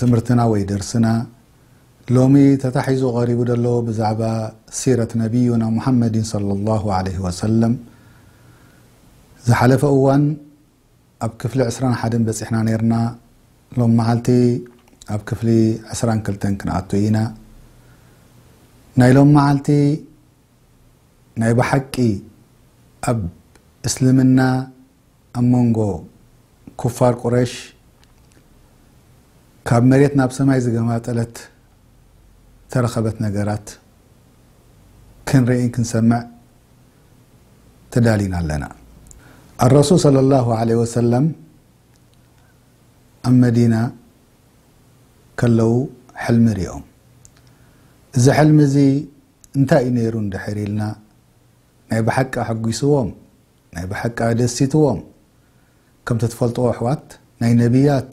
ትምህርትና ወይ ደርስና ሎሚ ተታሒዙ ቀሪቡ ዘሎ ብዛዕባ ሲረት ነቢዩና ሙሓመዲን ሰለላሁ ዓለይሂ ወሰለም ዝሓለፈ እዋን ኣብ ክፍሊ ዕስራን ሓደን በፂሕና ነይርና ሎም መዓልቲ ኣብ ክፍሊ ዕስራን ክልተን ክንኣቱ ኢና ናይ ሎም መዓልቲ ናይ ብሓቂ ኣብ እስልምና ኣብ መንጎ ኩፋር ቁረይሽ ካብ መሬት ናብ ሰማይ ዝገማጠለት ተረኸበት ነገራት ክንርእን ክንሰምዕ ተዳሊና ኣለና። ኣረሱል ሰለላሁ ዓለይሂ ወሰለም ኣብ መዲና ከለው ሕልሚ ሪኦም። እዚ ሕልሚ እዚ እንታይ እዩ ነይሩ እንድሕር ኢልና ናይ ብሓቂ ኣሐጒስዎም ናይ ብሓቂ ኣደሲትዎም ከምቲ ትፈልጥዎ ኣሕዋት ናይ ነብያት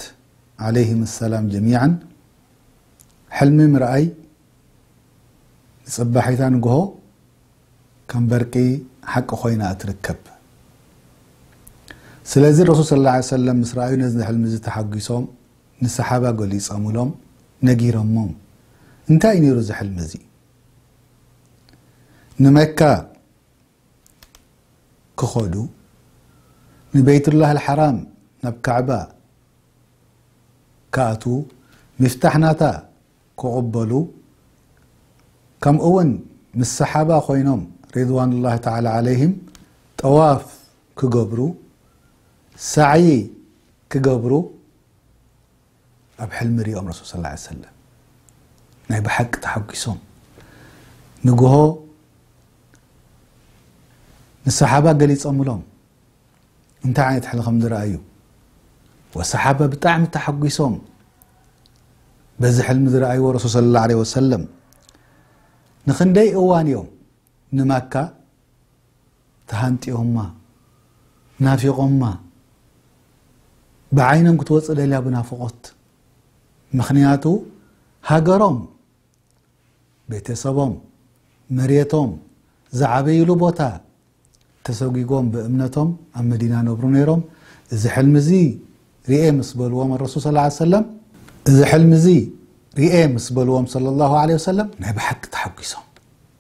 ዓለይሂም ሰላም ጀሚዓን ሕልሚ ምርኣይ ንጽባሒታ ንግሆ ከም በርቂ ሓቂ ኮይና እትርከብ ስለዚ ረሱል ስለ ላ ሰለም ምስ ረኣዩ ነዚ ሕልሚ እዚ ተሓጒሶም ንሰሓባ ገሊጸምሎም ነጊሮሞም እንታይ እዩ ነይሩ እዚ ሕልሚ እዚ ንመካ ክኸዱ ንበይቱላህ ኣልሓራም ናብ ካዕባ ክኣትዉ ሚፍታሕ ናታ ክቕበሉ ከምኡውን ምስ ሰሓባ ኮይኖም ሪድዋኑላህ ተዓላ ዓለይሂም ጠዋፍ ክገብሩ ሳዕዪ ክገብሩ ኣብ ሕልሚ ሪኦም ረሱል ሰለላሁ ዓለይሂ ወሰለም ናይ ብሓቂ ተሓጒሶም ንግሆ ንሰሓባ ገሊጾምሎም እንታይ ዓይነት ሕልሚ ከም ዝረኣዩ ወሰሓባ ብጣዕሚ ተሓጒሶም በዚ ሕልሚ ዝረኣይዎ ረሱል ሰለላሁ ዓለይሂ ወሰለም ንክንደይ እዋን እዮም ንማካ ተሃንጥዮማ ናፊቆማ ብዓይኖም ክትወጽእ ደልያ ብናፍቆት ምኽንያቱ ሃገሮም ቤተሰቦም መሬቶም ዝዓበይሉ ቦታ ተሰጒጎም ብእምነቶም ኣብ መዲና ነብሩ ነይሮም እዚ ሕልሚ እዚ ርኤ ምስ በልዎም ኣረሱል ስ ሰለም እዚ ሕልሚ እዚ ርኤ ምስ በልዎም ለ ላሁ ለ ወሰለም ናይ ብሓቂ ተሓጒሶም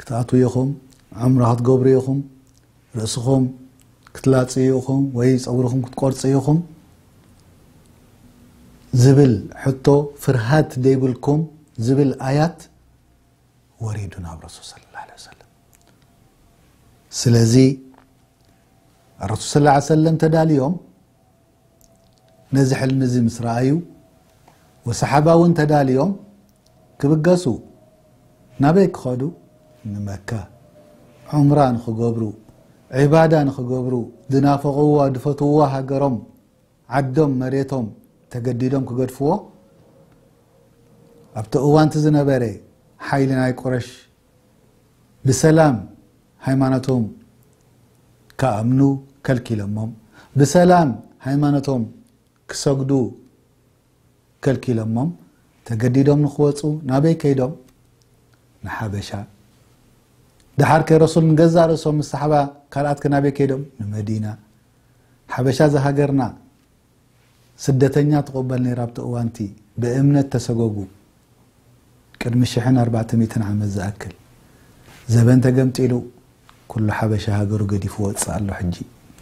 ክትኣትዉ ኢኹም፣ ዑምራ ክትገብሩ ኢኹም፣ ርእስኹም ክትላጽዩ ኢኹም ወይ ጸጉርኹም ክትቆርጹ ኢኹም ዝብል ሕቶ ፍርሃት ዘይብልኩም ዝብል ኣያት ወሪዱ ናብ ረሱል ስለ ላ ለ ሰለም ስለዚ ረሱል ስ ሰለም ተዳልዮም ነዚ ሕልሚ እዚ ምስ ረኣዩ ወሰሓባ እውን ተዳልዮም ክብገሱ ናበይ ክኸዱ ንመካ ዑምራ ንኽገብሩ ዒባዳ ንኽገብሩ ዝናፈቕዋ ዝፈትውዋ ሃገሮም ዓዶም መሬቶም ተገዲዶም ክገድፍዎ ኣብቲ እዋንቲ ዝነበረ ሓይሊ ናይ ቁረሽ ብሰላም ሃይማኖቶም ክኣምኑ ከልኪሎሞም፣ ብሰላም ሃይማኖቶም ክሰግዱ ከልኪሎሞም፣ ተገዲዶም ንኽወጹ ናበይ ከይዶም? ንሓበሻ። ደሓርከ ረሱል ንገዛእ ርእሶም ምስ ሰሓባ ካልኣትከ ናበይ ከይዶም? ንመዲና። ሓበሻ ዝሃገርና ስደተኛ ትቕበል ነይራ ኣብቲ እዋንቲ ብእምነት ተሰጎጉ ቅድሚ ሽሕን ኣርባዕተ ሚእትን ዓመት ዝኣክል ዘበን ተገምጢሉ ኩሉ ሓበሻ ሃገሩ ገዲፉ ወጽእ ኣሎ ሕጂ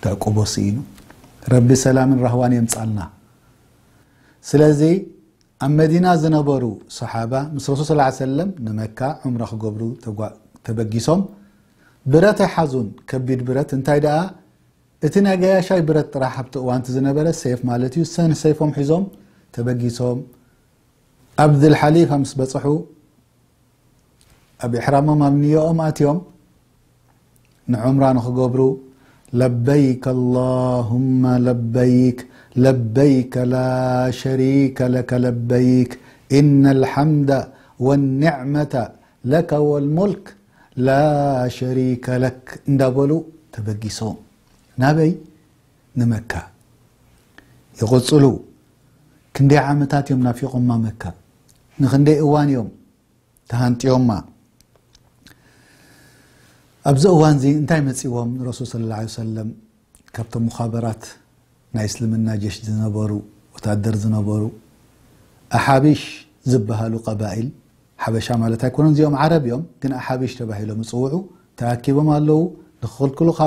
ተዕቁቦ ስኢኑ ረቢ ሰላምን ራህዋን የምጻልና ስለዚ ኣብ መዲና ዝነበሩ ሰሓባ ምስ ረሱል ስ ሰለም ንመካ ዑምራ ክገብሩ ተበጊሶም ብረት ኣይሓዙን ከቢድ ብረት እንታይ ደኣ እቲ ናይ ገያሻይ ብረት ጥራሕ ኣብቲ እዋንቲ ዝነበረ ሴፍ ማለት እዩ ሰን ሰይፎም ሒዞም ተበጊሶም ኣብ ድልሓሊፋ ምስ በፅሑ ኣብ ኢሕራሞም ኣብ ንዮኦም ኣትዮም ንዑምራ ንክገብሩ ለበይክ ኣላሁማ ለበይክ ለበይከ ላሸሪከ ለከ ለበይክ ኢነ ልሓምዳ ወኒዕመታ ለከ ወልሙልክ ላሸሪከ ለክ እንዳበሉ ተበጊሶም ናበይ ንመካ ይቕጽሉ ክንደይ ዓመታት እዮም ናፊቖማ መካ ንኽንደይ እዋን እዮም ተሃንጥዮማ ኣብዚ እዋንዚ እንታይ መጺዎም ንረሱል ሰለላሁ ዐለይሂ ወሰለም ካብቶም ሙኻበራት ናይ እስልምና ጀሽ ዝነበሩ ወታደር ዝነበሩ ኣሓቢሽ ዝብሃሉ ቀባኢል ሓበሻ ማለት ኣይኮነን እዚኦም ዓረብ እዮም ግን ኣሓቢሽ ተባሂሎም ዝፅውዑ ተኣኪቦም ኣለዉ ንክኽልክሉኻ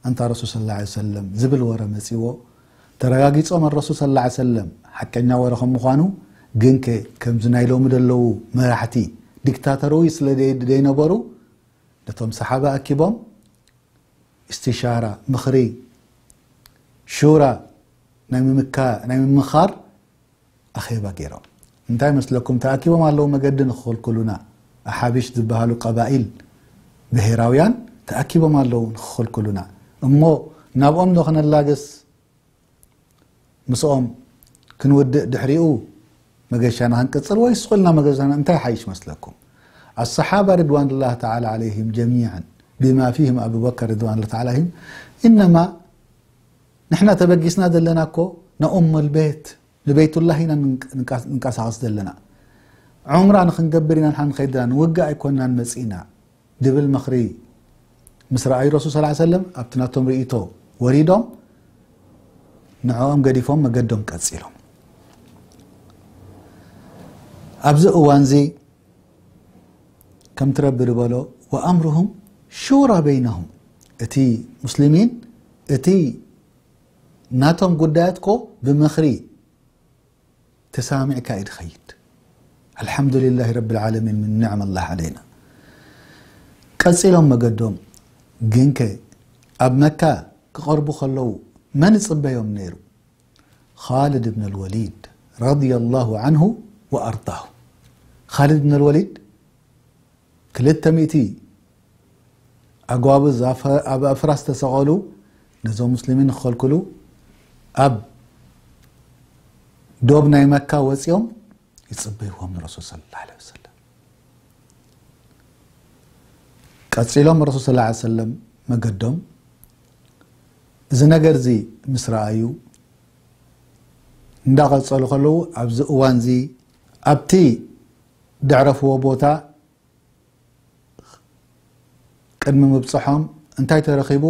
ኣንታ ረሱል ስለ ላ ሰለም ዝብል ወረ መፂዎ ተረጋጊፆም ኣረሱል ስለ ላ ሰለም ሓቀኛ ወረ ከም ምዃኑ ግን ከ ከምዚ ናይ ሎሚ ዘለዉ መራሕቲ ዲክታተርዊ ስለ ዘይነበሩ ነቶም ሰሓባ ኣኪቦም እስቲሻራ፣ ምኽሪ፣ ሹራ፣ ናይ ምምካ ናይ ምምኻር ኣኼባ ገይሮም። እንታይ መስለኩም ተኣኪቦም ኣለዉ መገዲ ንክኽልክሉና ኣሓቢሽ ዝበሃሉ ቀባኢል ብሄራውያን ተኣኪቦም ኣለዉ ንክኽልክሉና እሞ ናብኦም ዶ ክነላግስ ምስኦም ክንውድእ ድሕሪኡ መገሻና ክንቅጽል ወይስ ስቁልና መገሻና እንታይ ሓይሽ መስለኩም ኣሰሓባ ርድዋንላህ ተላ ዓለይህም ጀሚዕን ብማ ፊህም ኣቡበከር ርድዋንላ ተላ ዓለይህም እነማ ንሕና ተበጊስና ዘለና እኮ ንኡም ልቤት ንቤቱላህ ኢና ንንቀሳቐስ ዘለና ዑምራ ንክንገብር ኢና ንሓ ንኸይድና ንውግእ ኣይኮናን መጺእና ድብል ምኽሪ ምስ ረኣዩ ረሱል ሰለላሁ ዓለይሂ ወሰለም ኣብቲ ናቶም ርእይቶ ወሪዶም ንዕኦም ገዲፎም መገዶም ቀጺሎም ኣብዚ እዋንዚ ከምቲ ረቢ ዝበሎ ወኣምርሁም ሹራ በይነሁም እቲ ሙስሊሚን እቲ ናቶም ጉዳያት ኮ ብምኽሪ ተሳማሚዕካ እዩ ድኸይድ ኣልሓምዱሊላሂ ረቢልዓለሚን ምን ኒዕመላህ ዓለይና ቀጺሎም መገዶም ግንከ ኣብ መካ ክቐርቡ ከለዉ መን ይጽበዮም ነይሩ ኻልድ ብነልወሊድ ረዲየላሁ ዓንሁ ወኣርዳሁ ኻልድ ብነልወሊድ ክልተ ሚእቲ ኣጓብዝ ኣብ ኣፍራስ ዝተሰቐሉ ነዞም ሙስሊሚን ክኸልክሉ ኣብ ዶብ ናይ መካ ወፂኦም ይፅበይዎም ንረሱል ስለ ላ ለ ወሰለም ቀፂሎም ረሱል ስ ላ ሰለም መገዶም እዚ ነገር እዚ ምስ ረኣዩ እንዳቐፀሉ ከለዉ ኣብዚ እዋን እዚ ኣብቲ ደዕረፍዎ ቦታ ቅድሚ ምብጽሖም እንታይ ተረኺቡ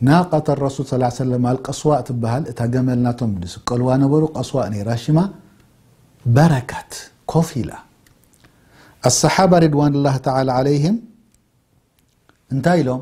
ናቀተ ረሱል ስ ሰለም ኣልቀስዋእ ትበሃል እታ ገመል ናቶም ዝስቀልዋ ነበሩ ቀስዋእ ነይራ ሽማ በረከት ኮፍ ኢላ ኣሰሓባ ሪድዋን ላህ ተላ ዓለይህም እንታይ ኢሎም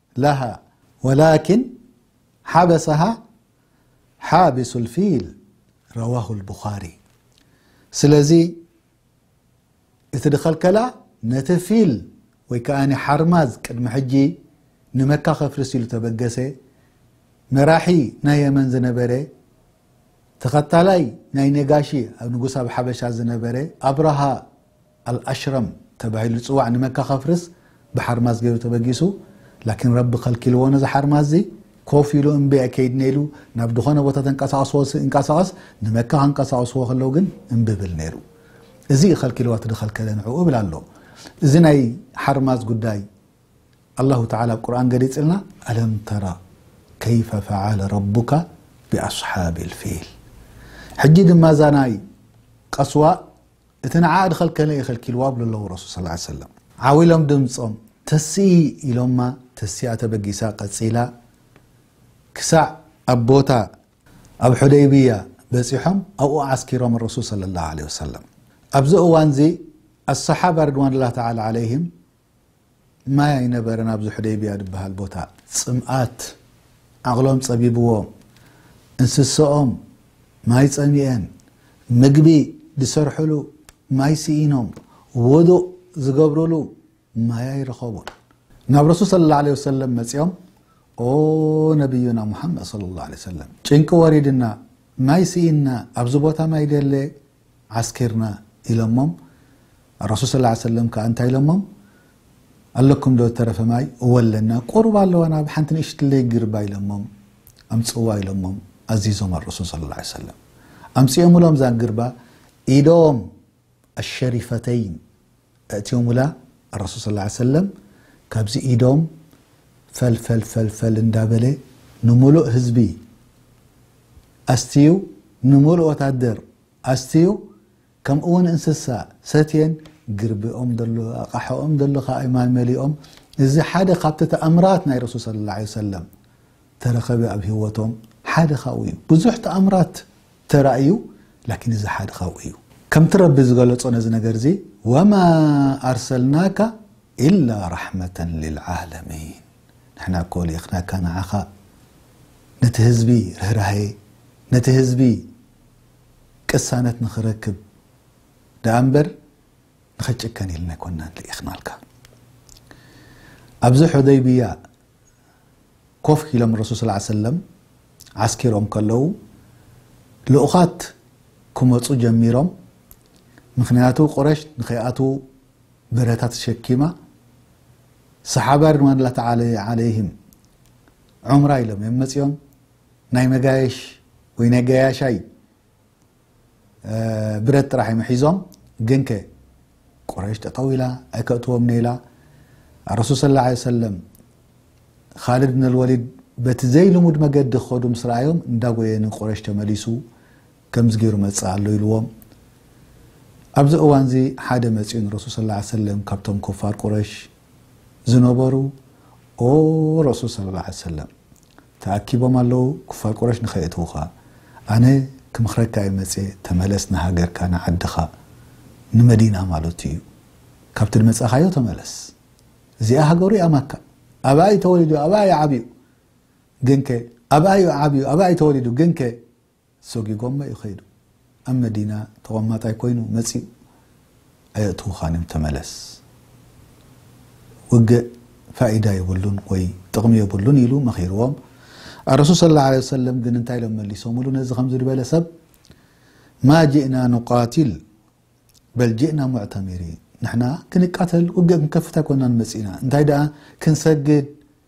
ለሃ ወላኪን ሓበሰሃ ሓቢሱ ልፊል ረዋሁ ልቡኻሪ ስለዚ እቲ ድኸልከላ ነቲ ፊል ወይ ከኣ ሓርማዝ ቅድሚ ሕጂ ንመካ ከፍርስ ኢሉ ተበገሰ መራሒ ናይ የመን ዝነበረ ተኸታላይ ናይ ነጋሺ ኣብ ንጉስ ኣብ ሓበሻ ዝነበረ ኣብረሃ ኣልኣሽረም ተባሂሉ ዝጽዋዕ ንመካ ከፍርስ ብሓርማዝ ገይሩ ተበጊሱ ላኪን ረቢ ከልኪልዎ ነዚ ሓርማዝዚ ኮፍ ኢሉ እምቢ ኣይከይድንየ ኢሉ ናብ ድኾነ ቦታ ተንቀሳቅስዎ ይንቀሳቀስ ንመካ ከንቀሳቅስዎ ከለው ግን እምቢ ብል ነይሩ እዚ እዩ ከልኪልዎ እቲ ድኸልከለ ንዕኡ እብል ኣሎ እዚ ናይ ሓርማዝ ጉዳይ ኣላሁ ተዓላ ኣብ ቁርኣን ገሊጽልና ኣለም ተራ ከይፈ ፈዓለ ረቡካ ብኣስሓብ ልፊል ሕጂ ድማ እዛ ናይ ቀስዋ እቲ ንዓኣ ድኸልከለ እየ ከልኪልዋ ብሉ ኣለዉ ረሱል ሰለላሁ ዓለይሂ ወሰለም። ዓው ኢሎም ድምጾም ተስኢ ኢሎማ ተሲኣ ተበጊሳ ቀጺላ ክሳዕ ኣብ ቦታ። ኣብ ሑደይብያ በጺሖም ኣብኡ ዓስኪሮም ረሱል ሰለላሁ ዓለይሂ ወሰለም። ኣብዚ እዋንዚ ኣስሓባ ሪድዋኑላህ ተዓላ ዓለይሂም ማይ ኣይነበረን ኣብዚ ሑደይብያ ድበሃል ቦታ። ጽምኣት ዓቕሎም ጸቢብዎም እንስሰኦም ማይ ጸሚኤን ምግቢ ድሰርሕሉ ማይ ስኢኖም ዉዱእ ዝገብርሉ ማይ ኣይረኸቡን ናብ ረሱል ሰለላሁ ዓለይሂ ወሰለም መጺኦም ኦ ነብዩና ሙሓመድ ሰለላሁ ዓለይሂ ወሰለም ጭንቂ ወሪድና ማይ ስኢንና ኣብዚ ቦታ ማይ ደለ ዓስኪርና ኢሎሞም ኣረሱል ሰለላሁ ዓለይሂ ወሰለም ከኣ እንታይ ኢሎሞም ኣለኩም ዶ ዝተረፈ ማይ እወ ኣለና ቁሩብ ኣለዋ ናብ ሓንቲ ንእሽትለይ ግርባ ኢሎሞም ኣምጽዋ ኢሎሞም ኣዚዞም ኣረሱል ሰለላሁ ዓለይሂ ወሰለም ኣምጺኦምሎም እዛ ግርባ ኢዶም ኣሸሪፈተይን ኣእትዮሙላ ኣረሱል ሰለላሁ ዓለይሂ ወሰለም ካብዚ ኢዶም ፈል ፈል ፈል ፈል እንዳበለ ንሙሉእ ህዝቢ ኣስትዩ ንሙሉእ ወታደር ኣስትዩ ከምኡ ውን እንስሳ ሰትየን ግርቢኦም ደሎ ኣቃሖኦም ደሎ ካኣ ማይ መሊኦም እዚ ሓደ ካብቲ ተኣምራት ናይ ረሱል ሰለላሁ ዓለይሂ ወሰለም ተረከበ ኣብ ሂወቶም ሓደ ካብኡ እዩ ብዙሕ ተኣምራት ተራ እዩ ላኪን እዚ ሓደ ካብኡ እዩ ከምቲ ረቢ ዝገለፆ ነዚ ነገር እዚ ወማ ኣርሰልናካ ኢላ ራሕመተ ልልዓለሚን ንሕና እኮ ልኢኽናካ ንዓኻ ነቲ ህዝቢ ርህራሄ ነቲ ህዝቢ ቅሳነት ንኽረክብ ደኣ እምበር ንኽጭከን ኢልና ኣይኮናን ልኢኽናልካ ኣብዚ ሑደይብያ ኮፍ ኢሎም ረሱል ሰለዓል ሰለም ዓስኪሮም ከለዉ ልኡኻት ክመጹ ጀሚሮም ምኽንያቱ ቁረሽ ንኸይኣትዉ ብረታ ተሸኪማ ሰሓባ ርድዋንላ ተዓለ ዓለይህም ዑምራ ኢሎም እዮም መጺኦም ናይ መጋየሽ ወይ ናይ ገያሻይ ብረት ጥራሕ እዮም ሒዞም ግን ከ ቁረሽ ጠጠው ኢላ ኣይከእትዎም ነይላ ረሱል ስ ላ ሰለም ካልድ ነልወሊድ በቲ ዘይልሙድ መገዲ ክኸዱ ምስ ረኣዮም እንዳጎየ ንቁረሽ ተመሊሱ ከምዚ ገይሩ መፅእ ኣሎ ኢልዎም ኣብዚ እዋን እዚ ሓደ መፅኡ ንረሱል ስ ሰለም ካብቶም ኮፋር ቁረሽ ዝነበሩ ኦ ረሱል ስ ሰለም ተኣኪቦም ኣለዉ ኩፋር ቁረሽ ንከየእትዉኻ ኣነ ክምኽረካ እየ መጽየ ተመለስ ንሃገርካ ንዓድኻ ንመዲና ማለቱ እዩ ካብቲ ድመጻኻዮ ተመለስ እዚኣ ሃገሩ እያ ማካ ኣብኣ እዩ ተወሊዱ ኣብኣ እዩ ዓብዩ ግንከ ኣብኣ እዩ ዓብዩ ኣብኣ እዩ ተወሊዱ ግንከ ሰጒጎሞ እዩ ከይዱ ኣብ መዲና ተቐማጣይ ኮይኑ መጺኡ ኣየእትውኻን እዮም ተመለስ ውግእ ፋኢዳ የብሉን ወይ ጥቕሚ የብሉን ኢሉ መኺርዎም ኣረሱል ሰለላሁ ዓለይሂ ወሰለም ግን እንታይ ኢሎም መሊሶምሉ ነዚ ከምዚ ዝበለ ሰብ ማ ጅእና ኑቃትል በል ጅእና ሙዕተሚሪን ንሕና ክንቃተል ውግእ ክንከፍት ኣይኮናን መጺእና እንታይ ደኣ ክንሰግድ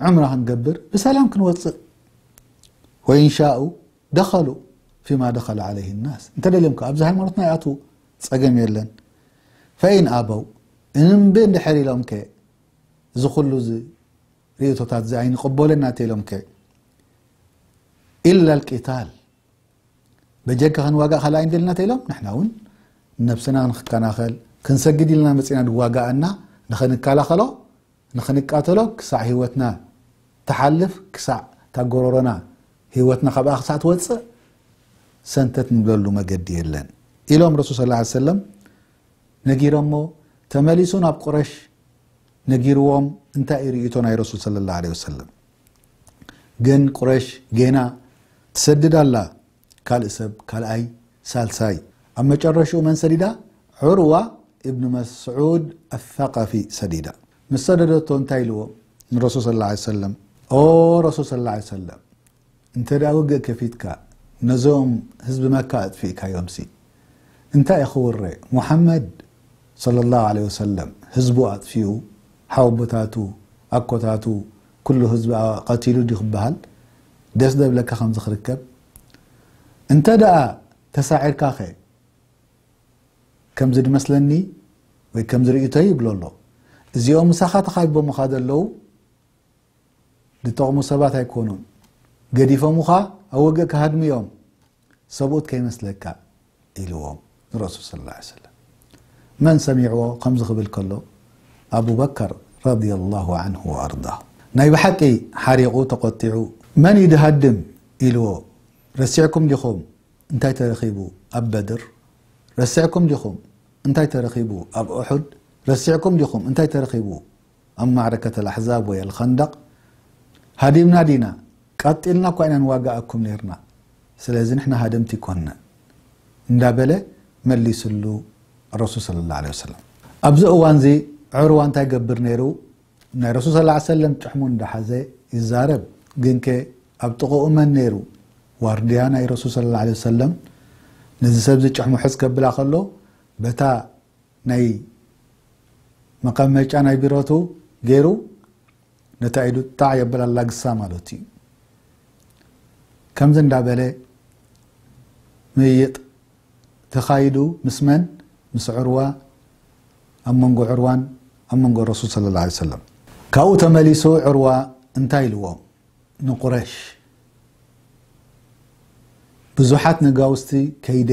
ዑምራ ክንገብር ብሰላም ክንወጽእ ወኢን ሻኡ ደኸሉ ፊማ ደኸለ ዓለይህ ናስ እንተደልዮም ከ ኣብዚ ሃይማኖትና ይኣትዉ ጸገም የለን ፈኢን ኣበው እንቢ እንድሕር ኢሎም ከ እዚ ኩሉ እዚ ርእቶታት እዚ ኣይንቕበሎና ተኢሎም ከ ኢላ ልቂታል በጀካ ክንዋጋእ ካልኣ ይንደልና ተኢሎም ንሕና እውን ነብስና ክንከናኸል ክንሰግድ ኢልና መፅና ንዋጋእና ንኸንከላኸሎ ንኽንቃተሎ ክሳዕ ህይወትና ትሓልፍ ክሳዕ እታ ጎሮሮና ህይወትና ካብኣ ክሳዕ ትወጽእ ሰንተት ንብለሉ መገዲ የለን ኢሎም ረሱል ስ ላ ሰለም ነጊሮሞ ተመሊሱ ናብ ቁረሽ ነጊርዎም እንታይ እዩ ርእቶ ናይ ረሱል ስለ ላ ለ ወሰለም ግን ቁረሽ ጌና ትሰድድ ኣላ ካልእ ሰብ ካልኣይ ሳልሳይ ኣብ መጨረሽኡ መን ሰዲዳ ዑርዋ እብን መስዑድ ኣልሰቀፊ ሰዲዳ ምስ ሰደደቶ እንታይ ኢልዎ ንረሱል ስለ ላሁ ዓለይሂ ወሰለም ኦ ረሱል ስለ ላሁ ዓለይሂ ወሰለም እንተ ደኣ ውግእ ከፊትካ ነዞም ህዝቢ መካ ኣጥፊእካዮምሲ እንታይ እዩ ክውረ ሙሓመድ ስለ ላሁ ዓለይሂ ወሰለም ህዝቡ ኣጥፊኡ ሓወቦታቱ ኣኮታቱ ኩሉ ህዝቢ ቀቲሉ ድዩ ክበሃል ደስ ዶ ይብለካ ከምዚ ክርከብ እንተ ደኣ ተሳዒርካ ከ ከምዚ ድመስለኒ ወይ ከምዚ ርእይቶይ ይብሎ ኣሎ እዚኦም ምሳኻ ተኻቢቦምኻ ዘለዉ ድጠቕሙ ሰባት ኣይኮኑን ገዲፎምኻ ኣብ ወግእ ክሃድሙ እዮም ሰብኡት ከይመስለካ ኢልዎም ንረሱል ሰለላሁ ዓለይሂ ወሰለም። መን ሰሚዕዎ ከምዚ ክብል ከሎ ኣቡበከር ረዲየላሁ ዓንሁ ወኣርዳሁ ናይ ብሓቂ ሓሪቑ ተቖጢዑ መን እዩ ድሃድም ኢልዎ ረሲዕኩም ዲኹም እንታይ ተረኺቡ ኣብ በድር ረሲዕኩም ዲኹም እንታይ ተረኺቡ ኣብ ኡሑድ ረሲዕኩም ዲኹም እንታይ ተረኺቡ ኣብ ማዕረከት ኣልኣሕዛብ ወይ ኣልኸንደቕ ሃዲምና ዲና? ቀጢልና እኳ ኢና ንዋጋኣኩም ኔርና፣ ስለዚ ንሕና ሃደምቲ ኣይኮንናን እንዳበለ መሊስሉ ረሱል ሰለላሁ ዓለይሂ ወሰለም። ኣብዚ እዋንዚ ዑርዋ እንታይ ይገብር ኔሩ? ናይ ረሱል ሰለላሁ ዓለይሂ ወሰለም ጭሕሙ እንዳሓዘ ይዛረብ፣ ግንከ ኣብ ጥቕኡ መን ኔሩ? ዋርድያ ናይ ረሱል ሰለላሁ ዓለይሂ ወሰለም ነዚ ሰብዚ ጭሕሙ ሕዝ ከብላ ከሎ በታ ናይ መቀመጫ ናይ ቢሮቱ ገይሩ ነታ ኢዱ ጣዕ የብል ኣላግሳ ማለቱ እዩ ከምዚ እንዳበለ ምይይጥ ተኻይዱ ምስ መን ምስ ዕርዋ ኣብ መንጎ ዕርዋን ኣብ መንጎ ረሱል ስለ ላ ሰለም ካብኡ ተመሊሱ ዕርዋ እንታይ ኢልዎም ንቁረሽ ብዙሓት ነጋውስቲ ከይደ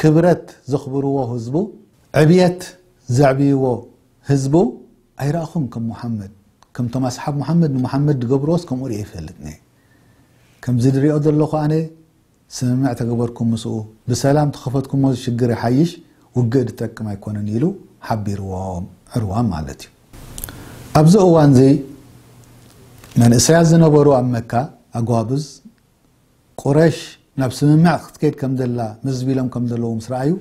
ክብረት ዘኽብርዎ ህዝቡ፣ ዕብየት ዘዕብይዎ ህዝቡ ኣይረኣኹን ከም ሙሓመድ፣ ከምቶም ኣስሓብ ሙሓመድ ንሙሓመድ ዝገብርዎስ ከምኡ ሪኤ ኣይፈልጥን'የ። ከምዚ ዝሪኦ ዘለኹ ኣነ ስምምዕ ተገበርኩም ምስኡ ብሰላም ተኸፈትኩሞ ዝሽግር ይሓይሽ ውግእ ዝጠቅም ኣይኮነን ኢሉ ሓቢርዎም ዕርዋን ማለት'ዩ። ኣብዚ እዋንዚ መንእሰያት ዝነበሩ ኣብ መካ ኣጓብዝ ቁረሽ ናብ ስምምዕ ክትከይድ ከም ዘላ ምዝብ ኢሎም ከም ዘለዉ ምስ ረኣዩ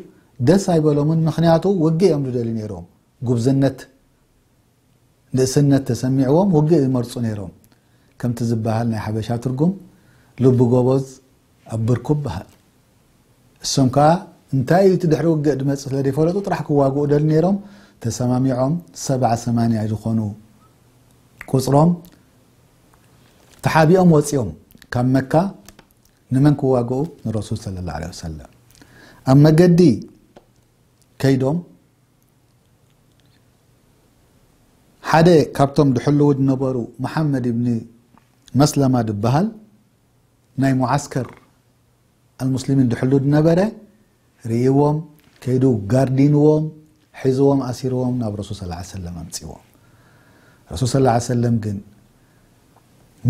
ደስ ኣይበሎምን ምኽንያቱ ውግእ እዮም ዝደልዩ ነይሮም ጉብዝነት ንእስነት ተሰሚዕዎም ውግእ ይመርፁ ነይሮም ከምቲ ዝበሃል ናይ ሓበሻ ትርጉም ልቢ ጎበዝ ኣብ ብርኩ በሃል እሶም ከዓ እንታይ እዩ እቲ ድሕሪ ውግእ ድመፅእ ስለ ዘይፈለጡ ጥራሕ ክዋግኡ ደል ነይሮም ተሰማሚዖም ሰብዓ ሰማንያ ዝኾኑ ቁፅሮም ተሓቢኦም ወጺኦም ካብ መካ ንመን ክዋግኡ ንረሱል ሰለ ላ ለ ሰለም ኣብ መገዲ ከይዶም ሓደ ካብቶም ድሕልው ዝነበሩ መሓመድ ብኒ መስለማ ድበሃል ናይ ሙዓስከር ኣልሙስሊሚን ድሕሉድ ነበረ ርእይዎም ከይዱ ጋርዲንዎም ሒዝዎም ኣሲርዎም ናብ ረሱል ስ ላ ሰለም ኣምፅዎም ረሱል ስ ላ ሰለም ግን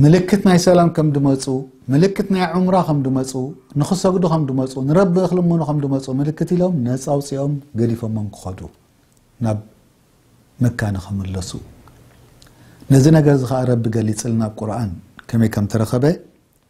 ምልክት ናይ ሰላም ከም ድመፁ ምልክት ናይ ዑምራ ከም ድመፁ ንክሰግዱ ከም ድመፁ ንረቢ ክልምኑ ከም ድመፁ ምልክት ኢሎም ነፃ ኣውፅኦም ገዲፎሞም ክኸዱ ናብ መካ ንክምለሱ ነዚ ነገር እዚ ከዓ ረቢ ገሊፅልና ኣብ ቁርን ከመይ ከም ተረኸበ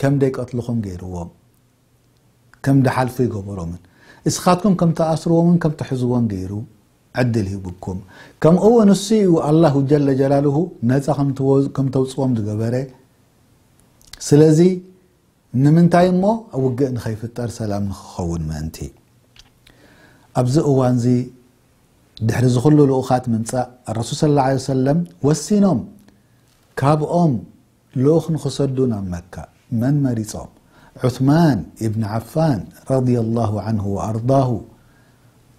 ከም ደይቀትልኹም ገይርዎም ከም ድሓልፉ ይገበሮምን እስኻትኩም ከም ትኣስርዎምን ከም ትሕዝዎን ገይሩ ዕድል ሂቡኩም ከምኡውን ንሱ እዩ ኣላሁ ጀለ ጀላልሁ ነፃ ከም ተውፅዎም ዝገበረ ስለዚ ንምንታይ እሞ ውግእ ንኸይፍጠር ሰላም ንክኸውን ምእንቲ ኣብዚ እዋን እዚ ድሕሪ እዚ ኩሉ ልኡኻት ምምፃእ ረሱል ስ ላ ሰለም ወሲኖም ካብኦም ልኡኽ ንኽሰዱ ናብ መካ መን መሪጾም? ዑስማን ኢብን ዓፋን ረዲየላሁ ዓንሁ ወኣርዳሁ፣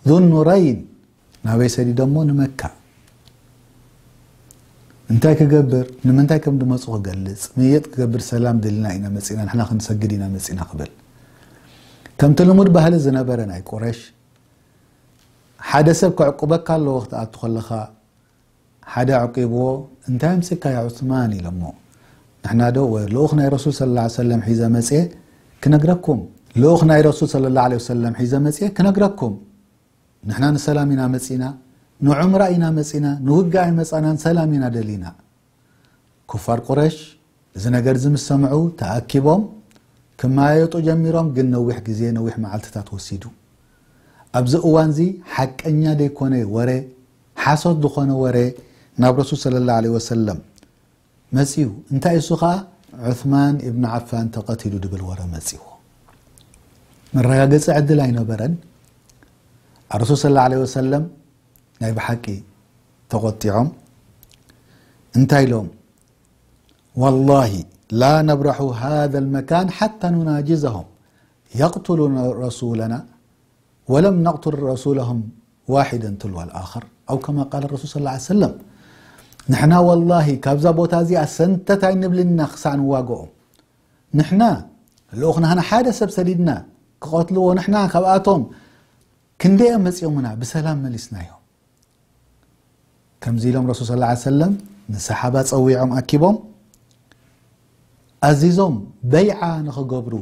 ዙ-ኑረይን፣ ናበይ ሰዲዶሞ? ንመካ። እንታይ ክገብር? ንምንታይ ከም ዝመጹ ክገልጽ፣ ምይይጥ ክገብር፣ ሰላም ደሊና ኢና መጺእና፣ ንሕና ክንሰግድ ኢና መጺእና ክብል። ከምቲ ልሙድ ባህሊ ዝነበረ ናይ ቁረሽ፣ ሓደ ሰብ ከዕቁበካ ኣለዎ ክትኣቱ ከለኻ፣ ሓደ ኣዕቂብዎ እንታይ ኣምጺካ ያ ዑስማን ኢሎሞ ንሕና ዶ ወ ልኡኽ ናይ ረሱል ሰለላሁ ዓለይሂ ወሰለም ሒዘ መጽየ ክነግረኩም ልኡኽ ናይ ረሱል ሰለላሁ ዓለይሂ ወሰለም ሒዘ መጽየ ክነግረኩም ንሕና ንሰላም ኢና መጺና ንዑምራ ኢና መጺና ንውግእ ኣይመጻናን ሰላም ኢና ደሊና ኩፋር ቁረሽ እዚ ነገርዚ ምስ ሰምዑ ተኣኪቦም ክመያየጡ ጀሚሮም ግን ነዊሕ ግዜ ነዊሕ መዓልትታት ወሲዱ። ኣብዚ እዋንዚ ሓቀኛ ዘይኮነ ወረ ሓሶት ዝኾነ ወረ ናብ ረሱል ሰለላሁ ዓለይሂ ወሰለም መጺኡ እንታይ እሱ ከኣ ዑስማን ኢብኑ ዓፋን ተቐቲሉ ድብል ወረ መጺዎ። መረጋገጺ ዕድል ኣይነበረን። ኣረሱል ሰለላሁ ዓለይሂ ወሰለም ናይ ብሓቂ ተቆጢዖም እንታይ ኢሎም ዋላሂ ላ ነብራሑ ሃذ መካን ሓታ ኑናጅዘም የቅትሉ ረሱለና ወለም ነቅትል ረሱለም ዋሒደ ትልዋ ኣክር ኣው ከማ ቃል ረሱል ስ ሰለም ንሕና ወላሂ ካብዛ ቦታ እዚኣ ሰንተት ኣይንብልንና ክሳዕ ንዋግኦም ንሕና ልኡክናና ሓደ ሰብ ሰዲድና ክቐትልዎ ንሕና ካብኣቶም ክንደኦም መፂኦምና ብሰላም መሊስና እዮም ከምዚ ኢሎም ረሱል ስ ላ ሰለም ንሰሓባ ፀዊዖም ኣኪቦም ኣዚዞም በይዓ ንኽገብሩ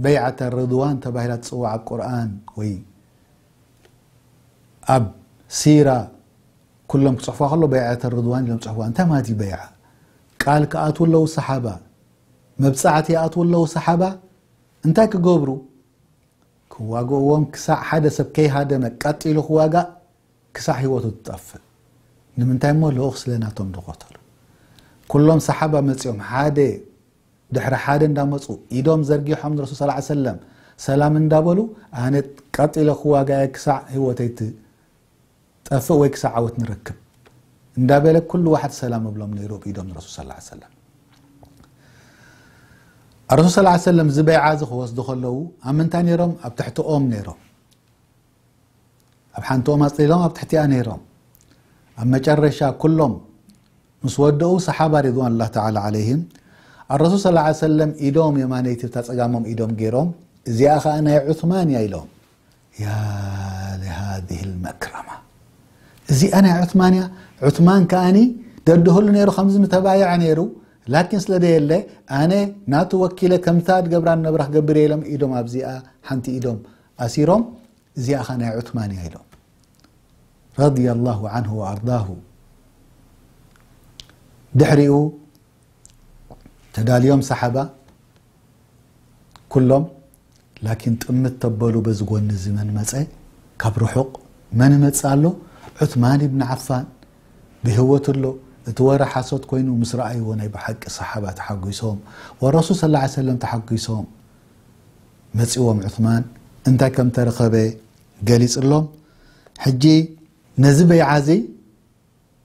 በይዓተ ርድዋን ተባሂላ ትፅዋዕ ኣብ ቁርን ወይ ኣብ ሲራ ኩሎም ክፅሑፋ ከሎ በይዓተ ርድዋን ኢሎም ፅሑፋ እንታይ ማለት እዩ በይዓ ቃል ክኣትዉ ኣለዉ ሰሓባ መብፃዕቲ ይኣትዉ ኣለዉ ሰሓባ እንታይ ክገብሩ ክዋግእዎም ክሳዕ ሓደ ሰብ ከይሃደመ ቀጥ ኢሉ ክዋጋእ ክሳዕ ህይወቱ ትጠፍእ ንምንታይ እሞ ልኡኽ ስለ ናቶም ዝቐተሉ ኩሎም ሰሓባ መጺኦም ሓደ ድሕሪ ሓደ እንዳመጹ ኢዶም ዘርጊሖም ንረሱል ስ ሰለም ሰላም እንዳበሉ ኣነ ቀጥ ኢለ ክዋጋየ ክሳዕ ህይወተይ ጠፍእ ወይ ክሳዕ ዓወት ንረክብ እንዳበለ ኩሉ ዋሕድ ሰላም እብሎም ነይሩ ብ ኢዶም ንረሱል ሰለላሁ ዓለይሂ ወሰለም። ኣረሱል ሰለላሁ ዓለይሂ ወሰለም እዚ በይዓ እዚ ክወስዱ ከለዉ ኣብ ምንታይ ነይሮም ኣብ ትሕቲ ኦም ነይሮም ኣብ ሓንቲ ኦም ኣጽሊሎም ኣብ ትሕቲኣ ነይሮም ኣብ መጨረሻ ኩሎም ምስ ወደኡ ሰሓባ ሪድዋኑላህ ተዓላ ዓለይሂም ኣረሱል ሰለላሁ ዓለይሂ ወሰለም ኢዶም የማነይቲ እታ ጸጋሞም ኢዶም ገይሮም እዚኣ ኸኣ ናይ ዑስማን እያ ኢሎም ያ ለሃዚህ ለመክረማ እዚኣ ናይ ዑትማን እያ ዑትማን ከኣኒ ደድህሉ ነይሩ ከምዚ ምተባየዐ ነይሩ ላኪን ስለ ዘየለ ኣነ ናቱ ወኪለ ከምታ ድገብራ ነብራ ክገብር እየ ኢሎም ኢዶም ኣብዚኣ ሓንቲ ኢዶም ኣሲሮም እዚኣ ኸ ናይ ዑትማን እያ ኢሎም ረድየ ኣላሁ ዓንሁ ወኣርዳሁ ድሕሪኡ ተዳልዮም ሰሓባ ኩሎም ላኪን ጥምት ተበሉ በዚ ጎኒ እዚ መን መጸ ካብ ርሑቅ መን እመጽእ ኣሎ ዑትማን ኢብን ዓፋን ብህወት ኣሎ እቲ ወረ ሓሶት ኮይኑ ምስ ረኣይዎ ናይ ብሓቂ ሰሓባ ተሓጉሶም ወረሱል ሰለላሁ ዓለይሂ ወሰለም ተሓጉሶም መጺዎም ዑትማን እንታይ ከም ተረኸበ ገሊጽሎም ሕጂ ነዚ በይዓ እዚ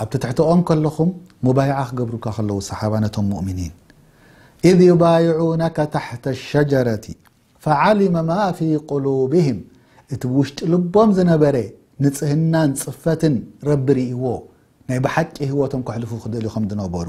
ኣብ ትትሕተኦም ከለኹም ሙባይዓ ክገብሩካ ከለዉ ሰሓባ ነቶም ሙእሚኒን ኢዝ ዩባይዑነከ ታሕተ ሸጀረቲ ፈዓሊመ ማ ፊ ቁሉብህም እቲ ብውሽጢ ልቦም ዝነበረ ንጽህናን ጽፈትን ረቢ ርእይዎ ናይ ብሓቂ ህይወቶም ከሕልፉ ክደልዩ ከም ዝነበሩ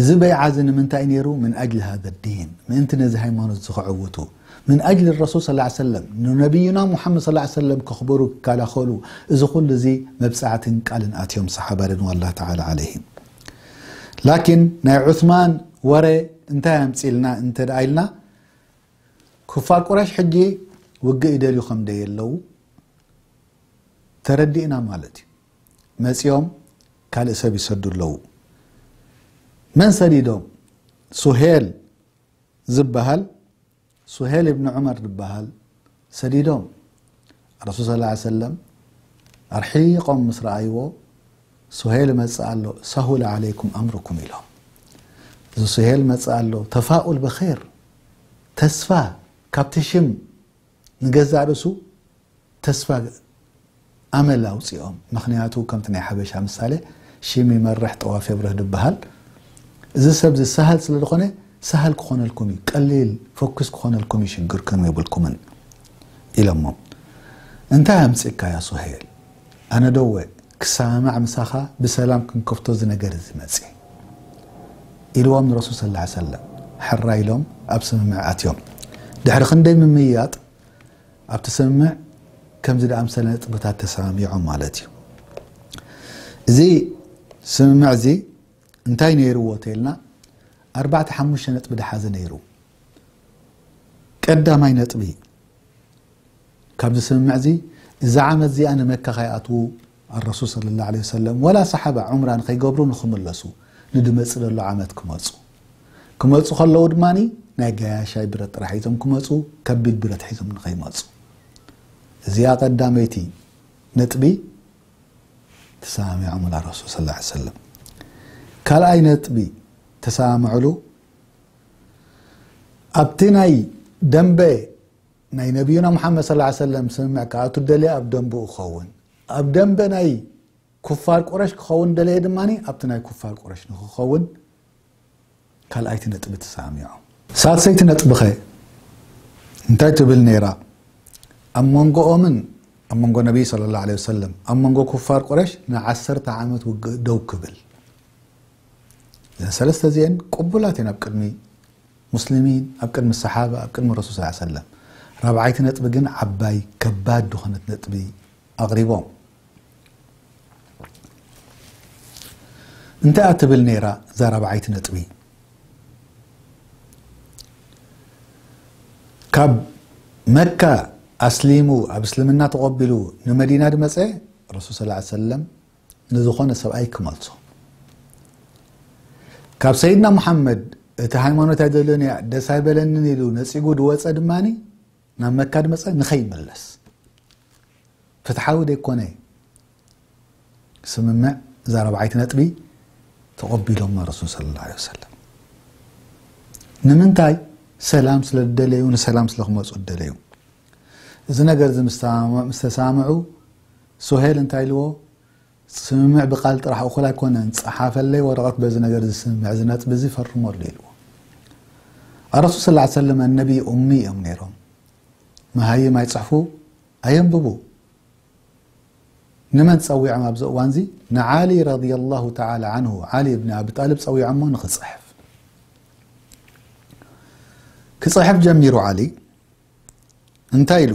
እዚ በይዓ እዚ ንምንታይ እዩ ነይሩ? ምን ኣጅሊ ሃዛ ዲን፣ ምእንቲ ነዚ ሃይማኖት እዚ ከዕውቱ፣ ምን ኣጅሊ ረሱል ሰለላሁ ዓለይሂ ወሰለም፣ ንነብዩና ሙሓመድ ሰለላሁ ዓለይሂ ወሰለም ከኽብሩ፣ ክከላኸሉ፣ እዚ ኹሉ እዚ መብጻዕትን ቃልን ኣትዮም ሰሓባ ሪድዋኑላሂ ተዓላ ዓለይሂም። ላኪን ናይ ዑስማን ወረ እንታይ ኣምጺእልና እንተድኣ ኢልና፣ ኩፋር ቁረይሽ ሕጂ ውግእ ይደልዩ ከምደየለዉ ተረዲእና ማለት እዩ። መጺኦም ካልእ ሰብ ይሰዱ ኣለዉ መን ሰዲዶም ሱሄል ዝበሃል ሱሄል እብኒ ዑመር ዝበሃል ሰዲዶም ረሱል ስ ላ ሰለም ኣርሒቆም ምስ ረኣይዎ ሱሄል መፅእ ኣሎ ሳሁል ዓለይኩም ኣምርኩም ኢሎም እዚ ሱሄል መፅእ ኣሎ ተፋኡል ብር ተስፋ ካብቲ ሽም ንገዛእ ርእሱ ተስፋ ኣመል ኣውጺኦም ምኽንያቱ ከምቲ ናይ ሓበሻ ምሳለ ሺም ይመርሕ ጠዋፍ የብርህ ድበሃል እዚ ሰብዚ ሳህል ስለ ዝኾነ ሳህል ክኾነልኩም እዩ ቀሊል ፈኩስ ክኾነልኩም እዩ ሽግርኩም የብልኩምን ኢሎሞም እንታይ ኣምጺእካያ ሱሄል ኣነ ዶ እወ ክሰማማዕ ምሳኻ ብሰላም ክንከፍቶ እዚ ነገር እዚ መጽየ ኢልዎም ንረሱል ሰለላሁ ዐለይሂ ወሰለም ሕራይ ኢሎም ኣብ ስምምዕ ኣትዮም ድሕሪ ክንደይ ምምይያጥ ኣብቲ ስምምዕ ከምዚ ዝኣምሰለ ነጥብታት ተሰማሚዖም ማለት እዩ እዚ ስምምዕ እዚ እንታይ ነይርዎ ተይልና ኣርባዕተ ሓሙሽተ ነጥቢ ድሓዘ ነይሩ ቀዳማይ ነጥቢ ካብዚ ስምምዕዚ እዛ ዓመት እዚኣ ንመካ ከይኣትዉ ኣረሱል ሰለላሁ ዓለይሂ ወሰለም ወላ ሰሓባ ዑምራ ንኸይገብሩ ንኽምለሱ ንድመጽእ ደሎ ዓመት ክመጹ ክመጹ ከለዉ ድማ ናይ ገያሻይ ብረት ጥራሕ ሒዞም ክመጹ ከቢድ ብረት ሒዞም ንኸይመጹ እዚኣ ቀዳመይቲ ነጥቢ ተሰማሚዖም ላ ረሱል ስ ሰለም ካልኣይ ነጥቢ ተሰማምዕሉ ኣብቲ ናይ ደንበ ናይ ነብዩና ሙሓመድ ሰለላሁ ዓለይሂ ወሰለም ስምምዕ ክኣቱ ዝደለየ ኣብ ደምብኡ ክኸውን፣ ኣብ ደምበ ናይ ኩፋር ቁረሽ ክኸውን ዝደለየ ድማ ኣብቲ ናይ ኩፋር ቁረሽ ንኽኸውን ካልኣይቲ ነጥቢ ተሰማሚዖም። ሳልሰይቲ ነጥቢኸ እንታይ ትብል ነይራ? ኣብ መንጎኦምን ኣብ መንጎ ነብዪ ሰለላሁ ዓለይሂ ወሰለም ኣብ መንጎ ኩፋር ቁረሽ ንዓሰርተ ዓመት ውግእ ደው ክብል። እዘን ሰለስተ እዚኤን ቅቡላት እየን ኣብ ቅድሚ ሙስሊሚን ኣብ ቅድሚ ሰሓባ ኣብ ቅድሚ ረሱል ሰለላሁ ዓለይሂ ወሰለም ራብዓይቲ ነጥቢ ግን ዓባይ ከባድ ዝኾነት ነጥቢ ኣቕሪቦም እንታይ እያ ትብል ነይራ እዛ ራብዓይቲ ነጥቢ ካብ መካ ኣስሊሙ ኣብ እስልምና ተቐቢሉ ንመዲና ድመፀ ረሱል ሰለላሁ ዓለይሂ ወሰለም ንዝኾነ ሰብኣይ ክመልሶ ካብ ሰይድና ሙሓመድ እቲ ሃይማኖት ኣይደልን እያ ደስ ኣይበለንን ኢሉ ነፂጉ ድወፀ ድማ ናብ መካ ድመፀ ንኸይምለስ ፍትሓዊ ዘይኮነ ስምምዕ እዛ ረብዓይቲ ነጥቢ ተቐቢሎማ ረሱል ስለ ላ ሰለም ንምንታይ ሰላም ስለ ዝደለዩ ንሰላም ስለ ክመፁ ዝደለዩ እዚ ነገር እዚ ምስተሰማምዑ ሶሄል እንታይ ኢልዎ ስምምዕ ብቃል ጥራሕ እኹል ኣይኮነን ጸሓፈለይ ወረቀት በዚ ነገር እዚ ስምምዕ እዚ ነጥቢ እዚ ፈርመሉ ኢልዎ ኣረሱል ስለ ላ ሰለም ኣነቢ ኡሚ እዮም ነይሮም መሃይም ኣይጽሕፉ ኣየንብቡ ንመን ጸዊዖም ኣብዚ እዋን እዚ ንዓሊ ረዲ ላሁ ተዓላ ዓንሁ ዓሊ እብኒ ኣቢ ጣልብ ጸዊዖሞ ንክጽሕፍ ክጽሕፍ ጀሚሩ ዓሊ እንታይ ኢሉ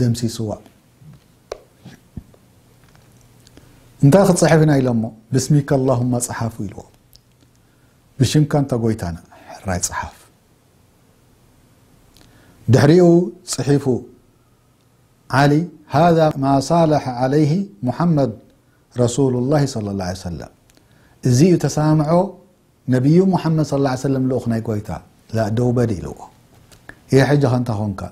ደምሲስዋ እንታይ ክፅሕፍ ኢና ኢሎሞ ብስሚከ ኣላሁማ ፀሓፉ ኢልዎ ብሽምካ እንተ ጎይታና ሕራይ ፀሓፍ ድሕሪኡ ፅሒፉ ዓሊ ሃذ ማ ሳለሐ ዓለይህ ሙሓመድ ረሱሉ ላ ለ ላ ሰለም እዚ እዩ ተሰማምዖ ነብዩ ሙሓመድ ሰለላሁ ዓለይሂ ወሰለም ልኡኽ ናይ ጎይታ ላእ ደው በል ኢልዎ ኢሂ ሕጂ ከ እንታይ ኮንካ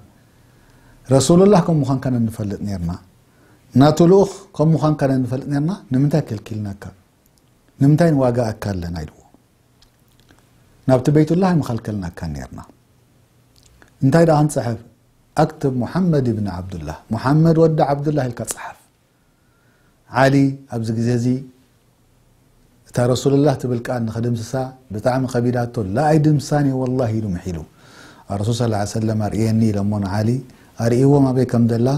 ረሱሉላህ ከም ምዃንካ ን ንፈልጥ ኔርና ናቱ ልኡኽ ከም ምዃንካ ን ንፈልጥ ኔርና ንምንታይ ከልኪልናካ ንምንታይ ንዋጋኣካ ኣለና ኢልዎ ናብቲ በይቱላህ ኣይምኸልከልናካን ኔርና እንታይ ደኣ ክንጽሕፍ ኣክትብ ሙሓመድ ብኒ ዓብዱላህ ሙሓመድ ወዲ ዓብዱላህ ኢልካ ጽሓፍ ዓሊ ኣብዚ ግዜ እዚ እታ ረሱሉላህ ትብል ቃል ንኽድምስሳ ብጣዕሚ ከቢዳቶ ላ ኣይድምስሳን እየ ወላሂ ኢሉ ምሒሉ ኣረሱል ሰለላሁ ዓለይሂ ወሰለም ኣርእየኒ ኢሎሞ ንዓሊ ኣርእይዎም ኣበይ ከም ዘላ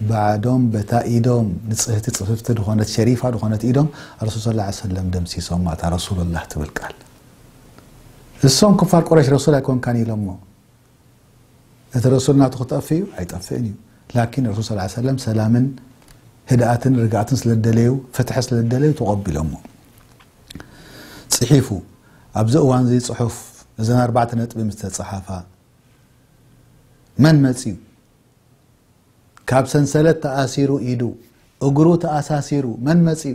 ባዕዶም በታ ኢዶም ንጽህቲ ጽፍፍቲ ዝኾነት ሸሪፋ ዝኾነት ኢዶም ኣረሱል ሰለላሁ ዓለይሂ ወሰለም ደምሲሶማ እታ ረሱሉላህ ትብል ቃል እሶም ኩፋር ቁረይሽ ረሱል ኣይኮንካን ኢሎሞ እቲ ረሱል ናቱ ክጠፍእ እዩ ኣይጠፍእን እዩ ላኪን ረሱል ስ ሰለም ሰላምን ህድኣትን ርግኣትን ስለ ደለዩ ፍትሒ ስለ ደለዩ ተቐቢሎሞ ፅሒፉ ኣብዚ እዋን እዚ ፅሑፍ እዘን ኣርባዕተ ነጥቢ ምስ ተፅሓፋ መን መፅዩ ካብ ሰንሰለት ተኣሲሩ ኢዱ እግሩ ተኣሳሲሩ መን መፅዩ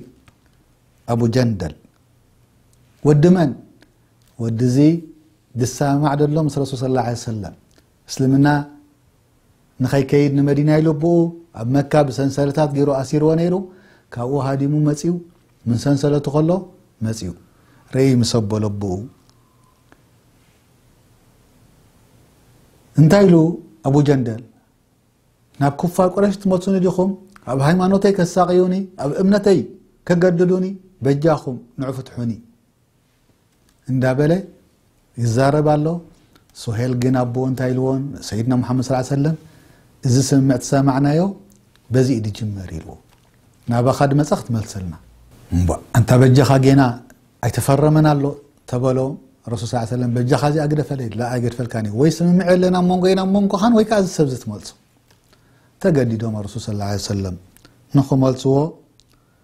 ኣቡ ጀንደል ወዲ መን ወዲ እዚ ድሳማማዕ ደሎ ምስ ረሱል ስለ ላ ሰለም እስልምና ንኸይከይድ ንመዲና ኢሉ ኣቦኡ ኣብ መካ ብሰንሰለታት ገይሩ ኣሲርዎ ነይሩ ካብኡ ሃዲሙ መፅኡ ምን ሰንሰለቱ ከሎ መፅኡ ረእይ ምስ ኣቦሎ ኣቦኡ እንታይ ኢሉ ኣቡ ጀንደል ናብ ኩፋር ቁረሽ ትመፁኒ ዲኹም ኣብ ሃይማኖተይ ከሳቅዩኒ ኣብ እምነተይ ከገድዱኒ በጃኹም ንዑ ፍትሑኒ እንዳበለ ይዛረብ ኣሎ። ሱሄል ግን ኣቦኡ እንታይ ኢልዎ ሰይድና ሙሓመድ ሰለላሁ ዐለይሂ ወሰለም እዚ ስምምዕ ተሰማዕናዮ በዚ እዩ ዝጅመር ኢልዎ ናባኻ ድመጸ ክትመልሰልና እምቧእ ኣንታ በጃኻ ጌና ኣይተፈረመን ኣሎ ተበሎ ረሱል ሰለላሁ ዐለይሂ ወሰለም በጃኻ እዚኣ ግደፈለይ ኢሉ ላኣ ኣይገድፈልካን እዩ ወይ ስምምዕ የለን ኣብ መንጎይን ኣብ መንጎኻን ወይ ከዓ እዚ ሰብ እዚ ትመልሶ ተገዲዶም ረሱል ሰለላሁ ዐለይሂ ወሰለም ንኽመልስዎ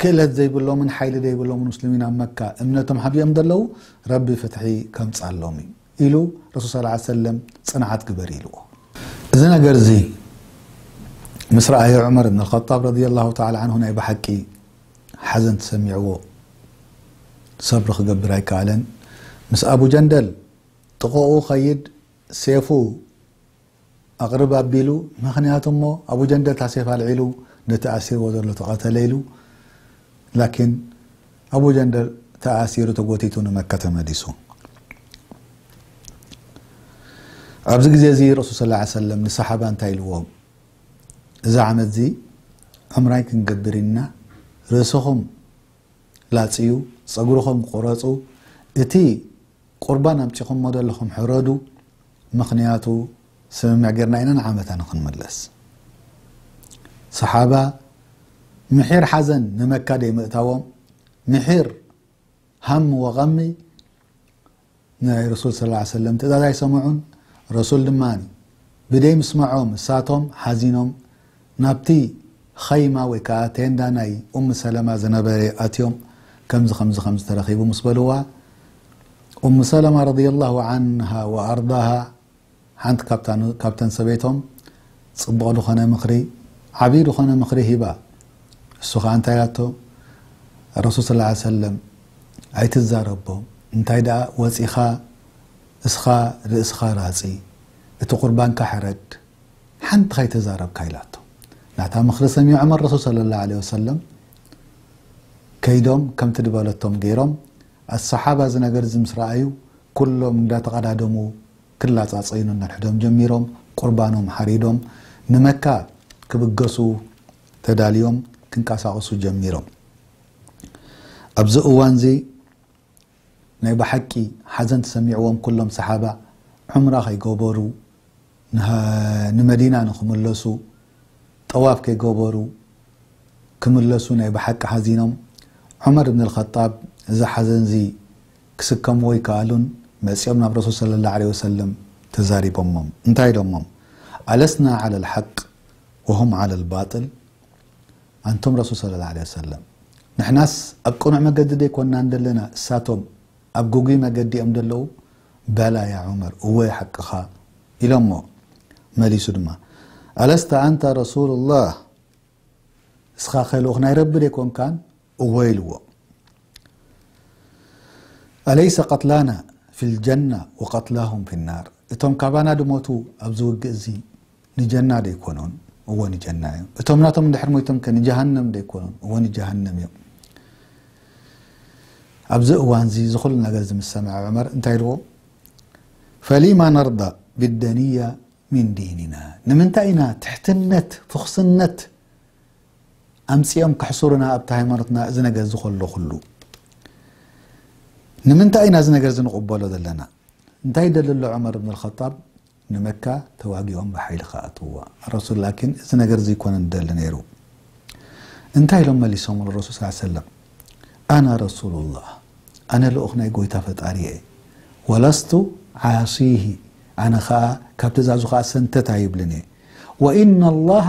ክእለት ዘይብሎምን ሓይሊ ዘይብሎምን ሙስልሚን ኣብ መካ እምነቶም ሓቢኦም ዘለዉ ረቢ ፍትሒ ከምጻሎም እዩ ኢሉ ረሱል ሰለላሁ ዓለይሂ ወሰለም ጽንዓት ግበር ኢልዎ። እዚ ነገር እዚ ምስ ረኣየ ዑመር እብን ኣልኸጣብ ረዲየላሁ ተዓላ ዓንሁ ናይ ብሓቂ ሓዘን ተሰሚዕዎ ሰብሪ ክገብር ኣይከኣለን። ምስ ኣቡ ጀንደል ጥቐኡ ክኸይድ ሴፉ ኣቕርብ ኣቢሉ ምኽንያት እሞ ኣቡጀንደ ታሴፍ ኣልዒሉ ነቲ ኣሲርዎ ዘሎ ተቐተለ ኢሉ ላኪን ኣቡጀንደ ተኣሲሩ ተጎቲቱ ንመካ ተመሊሱ ኣብዚ ግዜ እዚ ረሱል ስ ሰለም ንሰሓባ እንታይ ኢልዎም እዚ ዓመት እዚ ዕምራይ ክንገብር ኢና ርእስኹም ላፅዩ ፀጉርኹም ቁረፁ እቲ ቁርባን ኣምጺኹሞ ደለኹም ሕረዱ ምኽንያቱ ስምምዕ ጌርና ኢና ንዓመታ ንኽንምለስ ሰሓባ ምሒር ሓዘን ንመካ ደይምእታዎም ምሒር ሃም ወቐሚ ናይ ረሱል ስ ላ ሰለም ትእዛዝ ኣይሰምዑን ረሱል ድማ ብደይ ምስመዖም እሳቶም ሓዚኖም ናብቲ ኸይማ ወይ ከኣ ቴንዳ ናይ ኡም ሰለማ ዝነበረ ኣትዮም ከምዚ ከምዚ ከምዚ ተረኺቡ ምስ በልዋ ኡም ሰለማ ረድየላሁ ዓንሃ ወኣርዳሃ ሓንቲ ካብታ ካብተን ሰበይቶም ጽቡቕ ዝኾነ ምኽሪ ዓብዪ ዝኾነ ምኽሪ ሂባ እሱ ኸኣ እንታይ ኢላቶ ረሱል ስላ ዓል ሰለም ኣይትዛረቦም እንታይ ደኣ ወጺኻ እስኻ ርእስኻ ራጺ እቲ ቁርባንካ ሕረድ ሓንቲ ከይተዛረብካ ኢላቶ ናታ ምኽሪ ሰሚዖም ኣረሱል ሰለላሁ ዓለይሂ ወሰለም ከይዶም ከምቲ ድበለቶም ገይሮም ኣሰሓባ እዚ ነገር እዚ ምስ ረኣዩ ኩሎም እንዳተቐዳደሙ ክላጻጸዩ ነንሕዶም ጀሚሮም ቁርባኖም ሓሪዶም ንመካ ክብገሱ ተዳልዮም ክንቀሳቕሱ ጀሚሮም ኣብዚ እዋንዚ ናይ ባሓቂ ሓዘን ተሰሚዕዎም ኩሎም ሳሓባ ዑምራ ከይገበሩ ንመዲና ንክምለሱ ጠዋፍ ከይገበሩ ክምለሱ ናይ ባሓቂ ሓዚኖም ዑመር እብን ኣልኸጣብ እዚ ሓዘን እዚ ክስከምዎ ኣይካኣሉን መጺኦም ናብ ረሱል ሰለላሁ ዓለይሂ ወሰለም ተዛሪቦሞም እንታይ ኢሎሞም ኣለስና ዓለል ሓቅ ወሁም ዓለል ባጥል ኣንቱም ረሱል ሰለላሁ ዓለይሂ ወሰለም ንሕናስ ኣብ ቅኑዕ መገዲ ደይኮናን ደለና እሳቶም ኣብ ግጉይ መገዲ እዮም ደለዉ በላ ያ ዑመር እወ ሓቅኻ ኢሎሞ መሊሱ ድማ ኣለስተ ኣንተ ረሱሉላህ እስኻኸ ልኡኽ ናይ ረቢ ደይኮንካን እወ ኢልዎ ኣለይሰ ቀትላና ፊልጀና ወቀትላሁም ፊናር እቶም ካባና ድሞቱ ኣብዚ ውግእ እዚ ንጀና ዶ ኣይኮኑን? እወ ንጀና እዮም። እቶም ናቶም እንድሕር ሞይቶም ከ ንጀሃነም ዶ ኣይኮኑን? እወ ንጀሃነም እዮም። ኣብዚ እዋንዚ እዚ ኩሉ ነገር ዝምሰምዐ ዑመር እንታይ ኢልዎ? ፈሊማ ነርዳ ቢደንያ ሚን ዲንና ንምንታይ ኢና ትሕትነት ፍኹስነት ኣምፂኦም ከሕሱሩና ኣብቲ ሃይማኖትና እዚ ነገር እዚ ከሎ ኩሉ ንምንታይ ኢና እዚ ነገር እዚ ንቕበሎ ዘለና እንታይ ይደሊ ኣሎ ዑመር ብን ልኸጣብ ንመካ ተዋጊኦም ብሓይሊ ክኣትውዋ ኣረሱል ላኪን እዚ ነገር እዚ ኣይኮነን ዝደሊ ነይሩ እንታይ ኢሎም መሊሶምሉ ረሱል ስ ሰለም ኣና ረሱሉላህ ኣነ ልኡኽ ናይ ጎይታ ፈጣሪ እየ ወለስቱ ዓሲሂ ኣነ ከዓ ካብ ትእዛዙ ከዓ ሰንተት ኣይብልን እየ ወኢነላሃ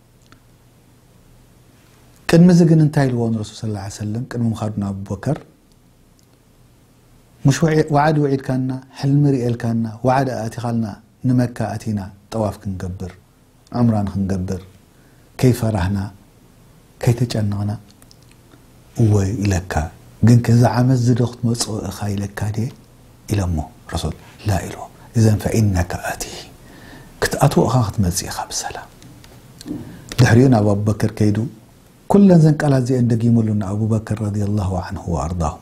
ቅድሚ እዚ ግን እንታይ ኢልዎ ንረሱል ስ ላ ሰለም ቅድሚ ምኻዱ ናብ ኣቡበከር ሙሽ ወዓድ ውዒድካና ሕልሚ ርእልካና ወዓድ ኣእቲኻልና ንመካ ኣቲና ጠዋፍ ክንገብር ዑምራ ንክንገብር ከይፈራህና ከይተጨነቕና እወ ኢለካ ግን ከዚ ዓመት ዝዶ ክትመፅኦ እኻ ኢለካ ድየ ኢሎሞ ረሱል ላህ ኢልዎም እዘን ፈኢነከ ኣቲህ ክትኣትዎ ኢኻ ክትመጽእ ኢኻ ብሰላም ድሕሪኡ ናብ ኣቡበክር ከይዱ ኩለን ዘን ቃላት እዚኤን ደጊሙሉ ንኣቡበክር ረዲየላሁ ዓንሁ ወኣርዳሁ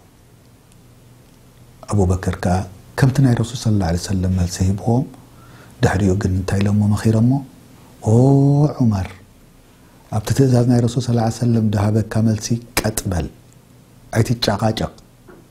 ኣቡበክር ከኣ ከምቲ ናይ ረሱል ስለ ላ ሰለም መልሲ ሂብዎም ድሕሪኡ ግን እንታይ ኢሎሞ መኺሮሞ ኦ ዑመር ኣብቲ ትእዛዝ ናይ ረሱል ስ ሰለም ድሃበካ መልሲ ቀጥበል ኣይትጨቓጨቕ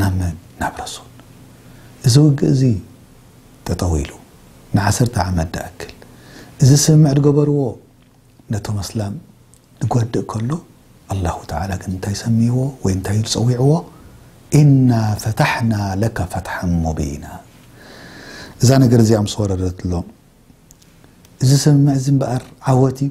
ናብ መን? ናብ ረሱል። እዚ ውግእ እዚ ጠጠው ኢሉ ንዓሰርተ ዓመት ድኣክል እዚ ስምምዕ ድገበርዎ ነቶም ኣስላም ድጎድእ ከሎ ኣላሁ ተዓላ ግን እንታይ ሰምይዎ ወይ እንታይ ኢሉ ጸዊዕዎ ኢና ፈታሕና ለከ ፈትሓን ሙቢና እዛ ነገር እዚኣ ምስ ወረደትሎም እዚ ስምምዕ እዚ እምበኣር ዓወት እዩ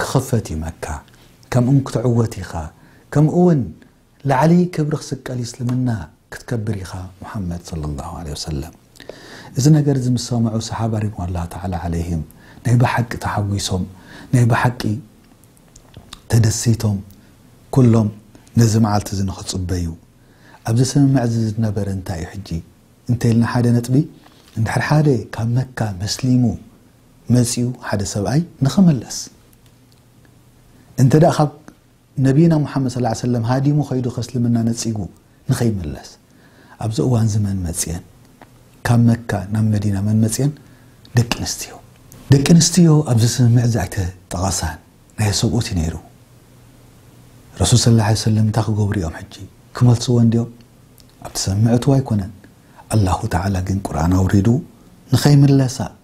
ክኽፈት እዩ መካ ከምእውን ክትዕወት ኢኻ ከምእውን ላዕሊ ክብሪ ክስቀል እዩ እስልምና ክትከብር ኢኻ ሙሓመድ ሰለላሁ ዓለይሂ ወሰለም እዚ ነገር እዚ ምስ ሰምዑ ሰሓባ ሪድዋኑላሂ ተዓላ ዓለይሂም ናይ ብሓቂ ተሓጒሶም ናይ ብሓቂ ተደሲቶም ኩሎም ነዚ መዓልቲ እዚ ንኽጽበዩ ኣብዚ ስምምዕ እዚ ዝነበረ እንታይ እዩ ሕጂ እንተይልና ሓደ ነጥቢ እንድሕር ሓደ ካብ መካ መስሊሙ መጺኡ ሓደ ሰብኣይ ንኽምለስ እንተ ካብ ነቢና ሙሓመድ ሰለላሁ ዓለይሂ ወሰለም ሃዲሙ ከይዱ ከስልምና ነጺጉ ንኸይምለስ ኣብዚ እዋን እዚ መን መጽኤን ካብ መካ ናብ መዲና መን መጽኤን ደቂ ኣንስትዮ ደቂ ኣንስትዮ ኣብዚ ስምምዕ እዚ ኣይተጠቐሳን ናይ ሰብኡት እዩ ነይሩ ረሱል ስለ ላ ሰለም እንታይ ክገብሩ እዮም ሕጂ ክመልስዎ እንዲኦም ኣብቲ ስምምዕ እትዎ ኣይኮነን ኣላሁ ተዓላ ግን ቁርኣን ኣውሪዱ ንኸይምለሳ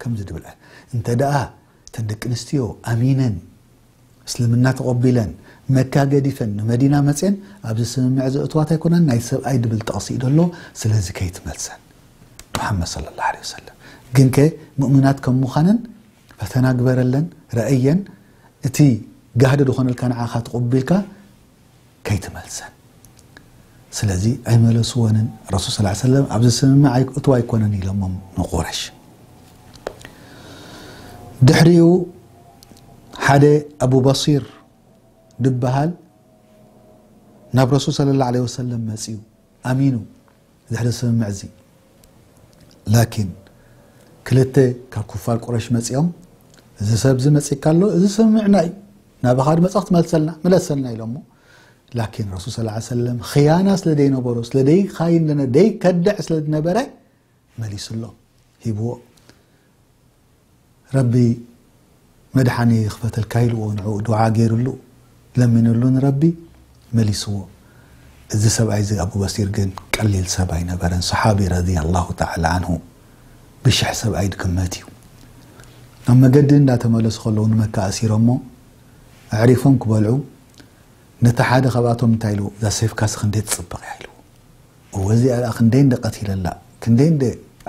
ከምዚ ድብል እንተደኣ እተን ደቂ ኣንስትዮ ኣሚነን እስልምና ተቐቢለን መካ ገዲፈን ንመዲና መፅየን ኣብዚ ስምምዕ ዘእትዋት ኣይኮናን ናይ ሰብኣይ ድብል ጥቕሲ እዩ ደሎ ስለዚ ከይትመልሰን ሙሓመድ ሰለላሁ ዐለይሂ ወሰለም ግን ከ ሙእሚናት ከም ምዃነን ፈተና ግበረለን ረእየን እቲ ጋህዲ ዝኾነልካ ንዓኻ ተቐቢልካ ከይትመልሰን ስለዚ ኣይመለስወንን ረሱል ስ ላ ሰለም ኣብዚ ስምምዕ እትው ኣይኮነን ኢሎሞም ንቁረሽ ድሕሪኡ ሓደ ኣቡ በሲር ድበሃል ናብ ረሱል ስለ ላ ለ ወሰለም መፅኡ ኣሚኑ ድሕሪ ስምምዕ'ዚ ላኪን ክልተ ካብ ኩፋር ቁረሽ መጺኦም እዚ ሰብዚ መጺካ ኣሎ እዚ ስምምዕና እዩ ናባኻ ድመጸ ክትመልሰልና ምለሰልና ኢሎሞ ላኪን ረሱል ስ ሰለም ኽያና ስለ ደይነበሮ ስለ ደይኻይን ደይከድዕ ስለ ድነበረ መሊስሎ ሂብዎ ረቢ መድሓኒ ይኽፈተልካ ኢልዎ ንዕኡ ዱዓ ገይርሉ ለሚንሉ ንረቢ መሊስዎ እዚ ሰብኣይ እዚ ኣቡ በሲር ግን ቀሊል ሰብ ኣይነበረን ሰሓቢ ረድየላሁ ተዓላ ዓንሁ ብሽሕ ሰብኣይ ድግመት እዩ ኣብ መገዲ እንዳተመለሱ ከለዉ ንመካ ኣሲሮሞ ኣዕሪፎም ክበልዑ ነቲ ሓደ ካብኣቶም እንታይ ኢልዎ እዛ ሴፍካሲ ክንደይ ትፅብቕ እያ ኢልዎ እወ እዚኣ ደኣ ክንደይ እንደ ቀቲለላ ክንደይ እንደ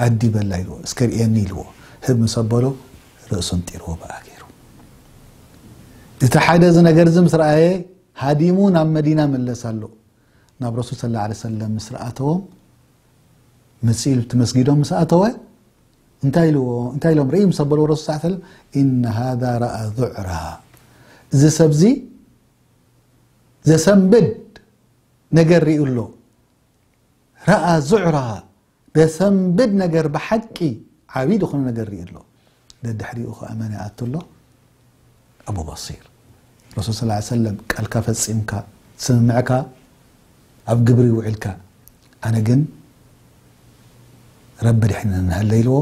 ኣዲበላ ኢልዎ እስከ ርእየኒ ኢልዎ ህብ ምስ ኣበሎ ርእሱ ኣንጢርዎ ብኣ ገይሩ እቲ ሓደ እዚ ነገር እዚ ምስ ረኣየ ሃዲሙ ናብ መዲና መለስ ኣሎ ናብ ረሱል ስለ ላ ሰለም ምስ ረኣተዎም መፅኡ እቲ መስጊዶም ምስ ኣተወ እንታይ ኢልዎ እንታይ ኢሎም ርእይ ምስ ኣበልዎ ረሱል ስ ሰለም ኢነ ሃذ ረኣ ዙዕራ እዚ ሰብዚ ዘሰንብድ ነገር ሪኡ ኣሎ ረኣ ዙዕራ ደሰንብድ ነገር ብሓቂ ዓብይ ዝኾነ ነገር ሪኡ ኣሎ ደድሕሪኡ ከዓ መን ይኣቱ ኣሎ ኣቡ በሲር ረሱል ስ ሰለም ቃልካ ፈፂምካ ስምምዕካ ኣብ ግብሪ ውዒልካ ኣነ ግን ረቢ ኣድሕነና እንሃለ ኢልዎ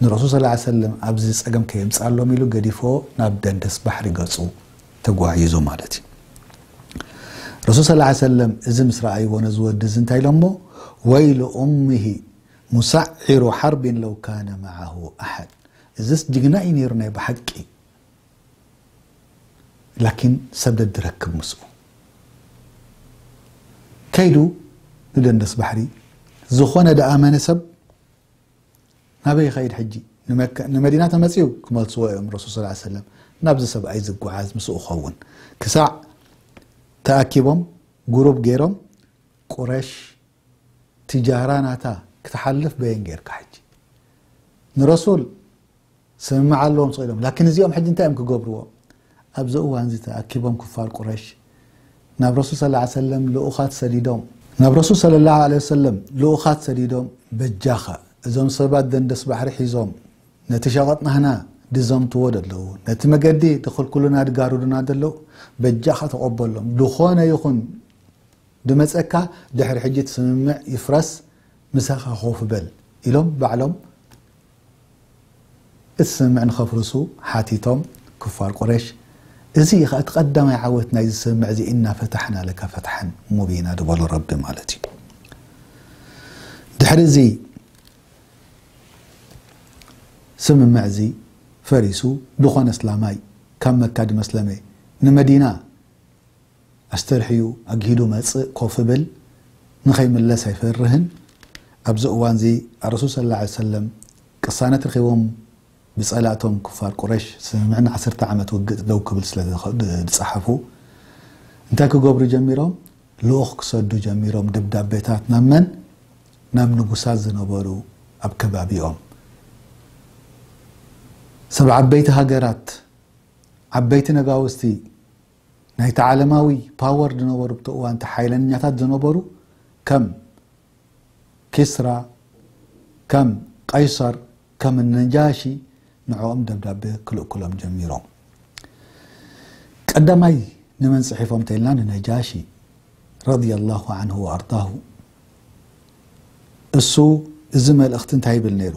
ንረሱል ሰለላሁ ዓለይሂ ወሰለም ኣብዚ ጸገም ከየምጽኣሎም ኢሉ ገዲፍዎ ናብ ደንደስ ባሕሪ ገጹ ተጓዒዙ ማለት እዩ። ረሱል ሰለላሁ ዓለይሂ ወሰለም እዚ ምስ ረኣይዎ ነዚ ወዲ እዚ እንታይ ኢሎሞ ወይሉ ኡምሂ ሙሰዒሩ ሓርቢን ለው ካነ መዓሁ ኣሓድ እዝስ ጅግና እዩ ነይሩ ናይ ብሓቂ ላኪን ሰብ ደድረክብ ምስኡ ከይዱ ንደንደስ ባሕሪ ዝኾነ ደኣ መን ሰብ ናበይ ይኸይድ ሕጂ ንመዲና ተመፅኡ ክመልስዎ እዮም ረሱል ስ ሰለም ናብዚ ሰብኣይ ዝጓዓዝ ምስኡ ኸውን ክሳዕ ተኣኪቦም ጉሩብ ገይሮም ቁረሽ ትጃራ ናታ ክትሓልፍ በየን ጌርካ ሕጂ ንረሱል ስምምዕ ኣለዎም ስቕ ኢሎም ላኪን እዚኦም ሕጂ እንታይ እዮም ክገብርዎ ኣብዚ እዋንዚ ተኣኪቦም ክፋር ቁረሽ ናብ ረሱል ሰለላሁ ዐለይሂ ወሰለም ልኡኻት ሰዲዶም ናብ ረሱል ሰለላሁ ዐለይሂ ወሰለም ልኡኻት ሰዲዶም በጃኻ እዞም ሰባት ደንደስ ባሕሪ ሒዞም ነቲ ሸቐጥ ናህና ድዘምትዎ ደለዉ ነቲ መገዲ ድኽልክሉና ድጋርዱና ደለዉ በጃኻ ተቐበሎም ዝኾነ ይኹን ድመጸካ ድሕሪ ሕጂ እቲ ስምምዕ ይፍረስ ምሳካ ኮፍ በል ኢሎም ባዕሎም እቲ ስምምዕ ንከፍርሱ ሓቲቶም ክፋር ቁሬሽ እዚ እዩ ከኣ እቲ ቀዳማይ ዓወት ናይዚ ስምምዕ እዚ እና ፈታሕና ለከ ፈትሐን ሙቢና ድበሎ ረቢ ማለት እዩ ድሕሪ እዚ ስምምዕ እዚ ፈሪሱ ድኮነ እስላማይ ካብ መካ ድመስለመ ንመዲና ኣስተርሕዩ ኣግሂዱ መጽእ ኮፍ እብል ንኸይምለስ ኣይፈርህን ኣብዚ እዋንዚ ኣረሱል ሰለላሁ ዓለይሂ ወሰለም ቅሳነት ረኺቦም ብጸላእቶም ኩፋር ቁረሽ ስምምዕ ንዓሰርተ ዓመት ውግእ ደው ክብል ስለ ድጸሓፉ እንታይ ክገብሩ ጀሚሮም ልኡኽ ክሰዱ ጀሚሮም ደብዳቤታት ናብ መን ናብ ንጉሳት ዝነበሩ ኣብ ከባቢኦም ሰብ ዓበይቲ ሃገራት ዓበይቲ ነጋውስቲ ናይቲ ዓለማዊ ፓወር ዝነበሩ ብቲ እዋን እቲ ሓይለኛታት ዝነበሩ ከም ኪስራ ከም ቀይሰር ከም ነጃሺ ንዕኦም ደብዳቤ ክልእኩሎም ጀሚሮም ቀዳማይ ንመን ጽሒፎም ተልና ንነጃሺ ረዲየላሁ ዐንሁ ወኣርዳሁ እሱ እዚ መልእኽቲ እንታይ ይብል ነይሩ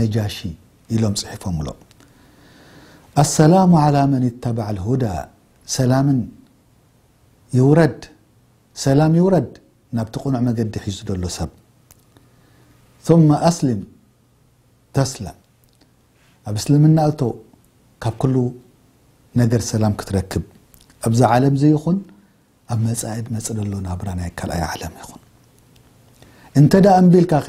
ነጃሺ ኢሎም ጽሒፎምሎ ኣሰላሙ ዓላ መን ኢተባዕ ልሁዳ ሰላምን ይውረድ ሰላም ይውረድ ናብቲ ቅኑዕ መገዲ ሒዙ ዘሎ ሰብ ثመ ኣስልም ተስለም ኣብ እስልምና እቶ ካብ ኩሉ ነገር ሰላም ክትረክብ ኣብዛ ዓለም ዘይኹን ኣብ መጻኢድ መጽእ ደሎ ናብራ ናይ ካልኣይ ዓለም ይኹን እንተ ደኣ እምቢልካ ከ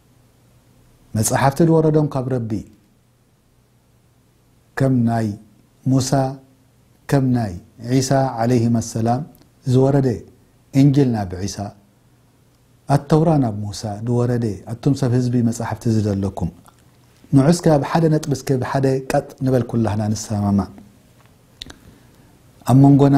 መጻሕፍቲ ዝወረዶም ካብ ረቢ ከም ናይ ሙሳ ከም ናይ ዒሳ ዓለይሂማ ሰላም ዝወረደ እንጅል ናብ ዒሳ ኣተውራ ናብ ሙሳ ዝወረደ ኣቱም ሰብ ህዝቢ መጻሕፍቲ ዝደለኩም ንዑ እስከ ኣብ ሓደ ነጥቢ እስከ ብሓደ ቀጥ ንበል ኩላህና ንሰማማዕ ኣብ መንጎና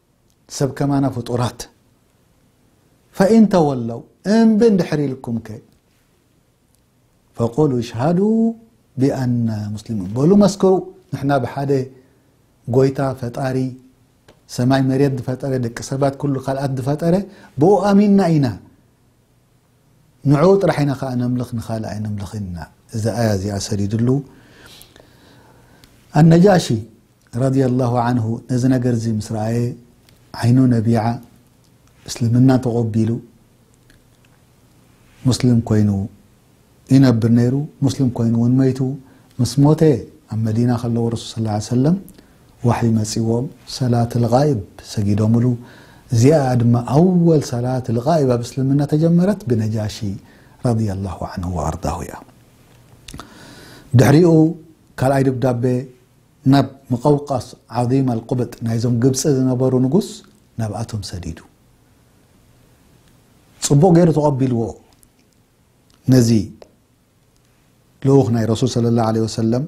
ሰብ ከማና ፍጡራት ፈኢን ተወለው እምቢ እንድሕር ኢልኩም ከ ፈቁሉ እሽሃዱ ቢኣና ሙስሊሙን በሉ መስክሩ ንሕና ብሓደ ጎይታ ፈጣሪ ሰማይ መሬት ዝፈጠረ ደቂ ሰባት ኩሉ ካልኣት ዝፈጠረ ብኡ ኣሚንና ኢና ንዕኡ ጥራሕ ኢና ከኣ ነምልኽ ንኻልእ ኣይነምልኽን ኢና እዛ ኣያ እዚኣ ሰዲድሉ ኣነጃሺ ረድየላሁ ዓንሁ ነዚ ነገር እዚ ምስ ረኣየ ዓይኑ ነቢዓ እስልምና ተቖቢሉ ሙስሊም ኮይኑ ይነብር ነይሩ ሙስሊም ኮይኑ እውን መይቱ ምስ ሞተ ኣብ መዲና ከለዉ ረሱል ስ ሰለም ዋሕይ መጺዎም ሰላት ልጋይብ ሰጊዶምሉ፣ እዚኣ'ያ ድማ ኣወል ሰላት ልጋይብ ኣብ እስልምና ተጀመረት ብነጃሺ ረዲየላሁ ዓንሁ ወኣርዳሁ'ያ። ድሕሪኡ ካልኣይ ድብዳቤ ናብ ሙቀውቀስ ዓዚም ኣልቁብጥ ናይዞም ግብጺ ዝነበሩ ንጉስ ናብኣቶም ሰዲዱ። ጽቡቕ ገይሩ ተቐቢልዎ ነዚ ልኡኽ ናይ ረሱል ሰለላሁ ዓለይሂ ወሰለም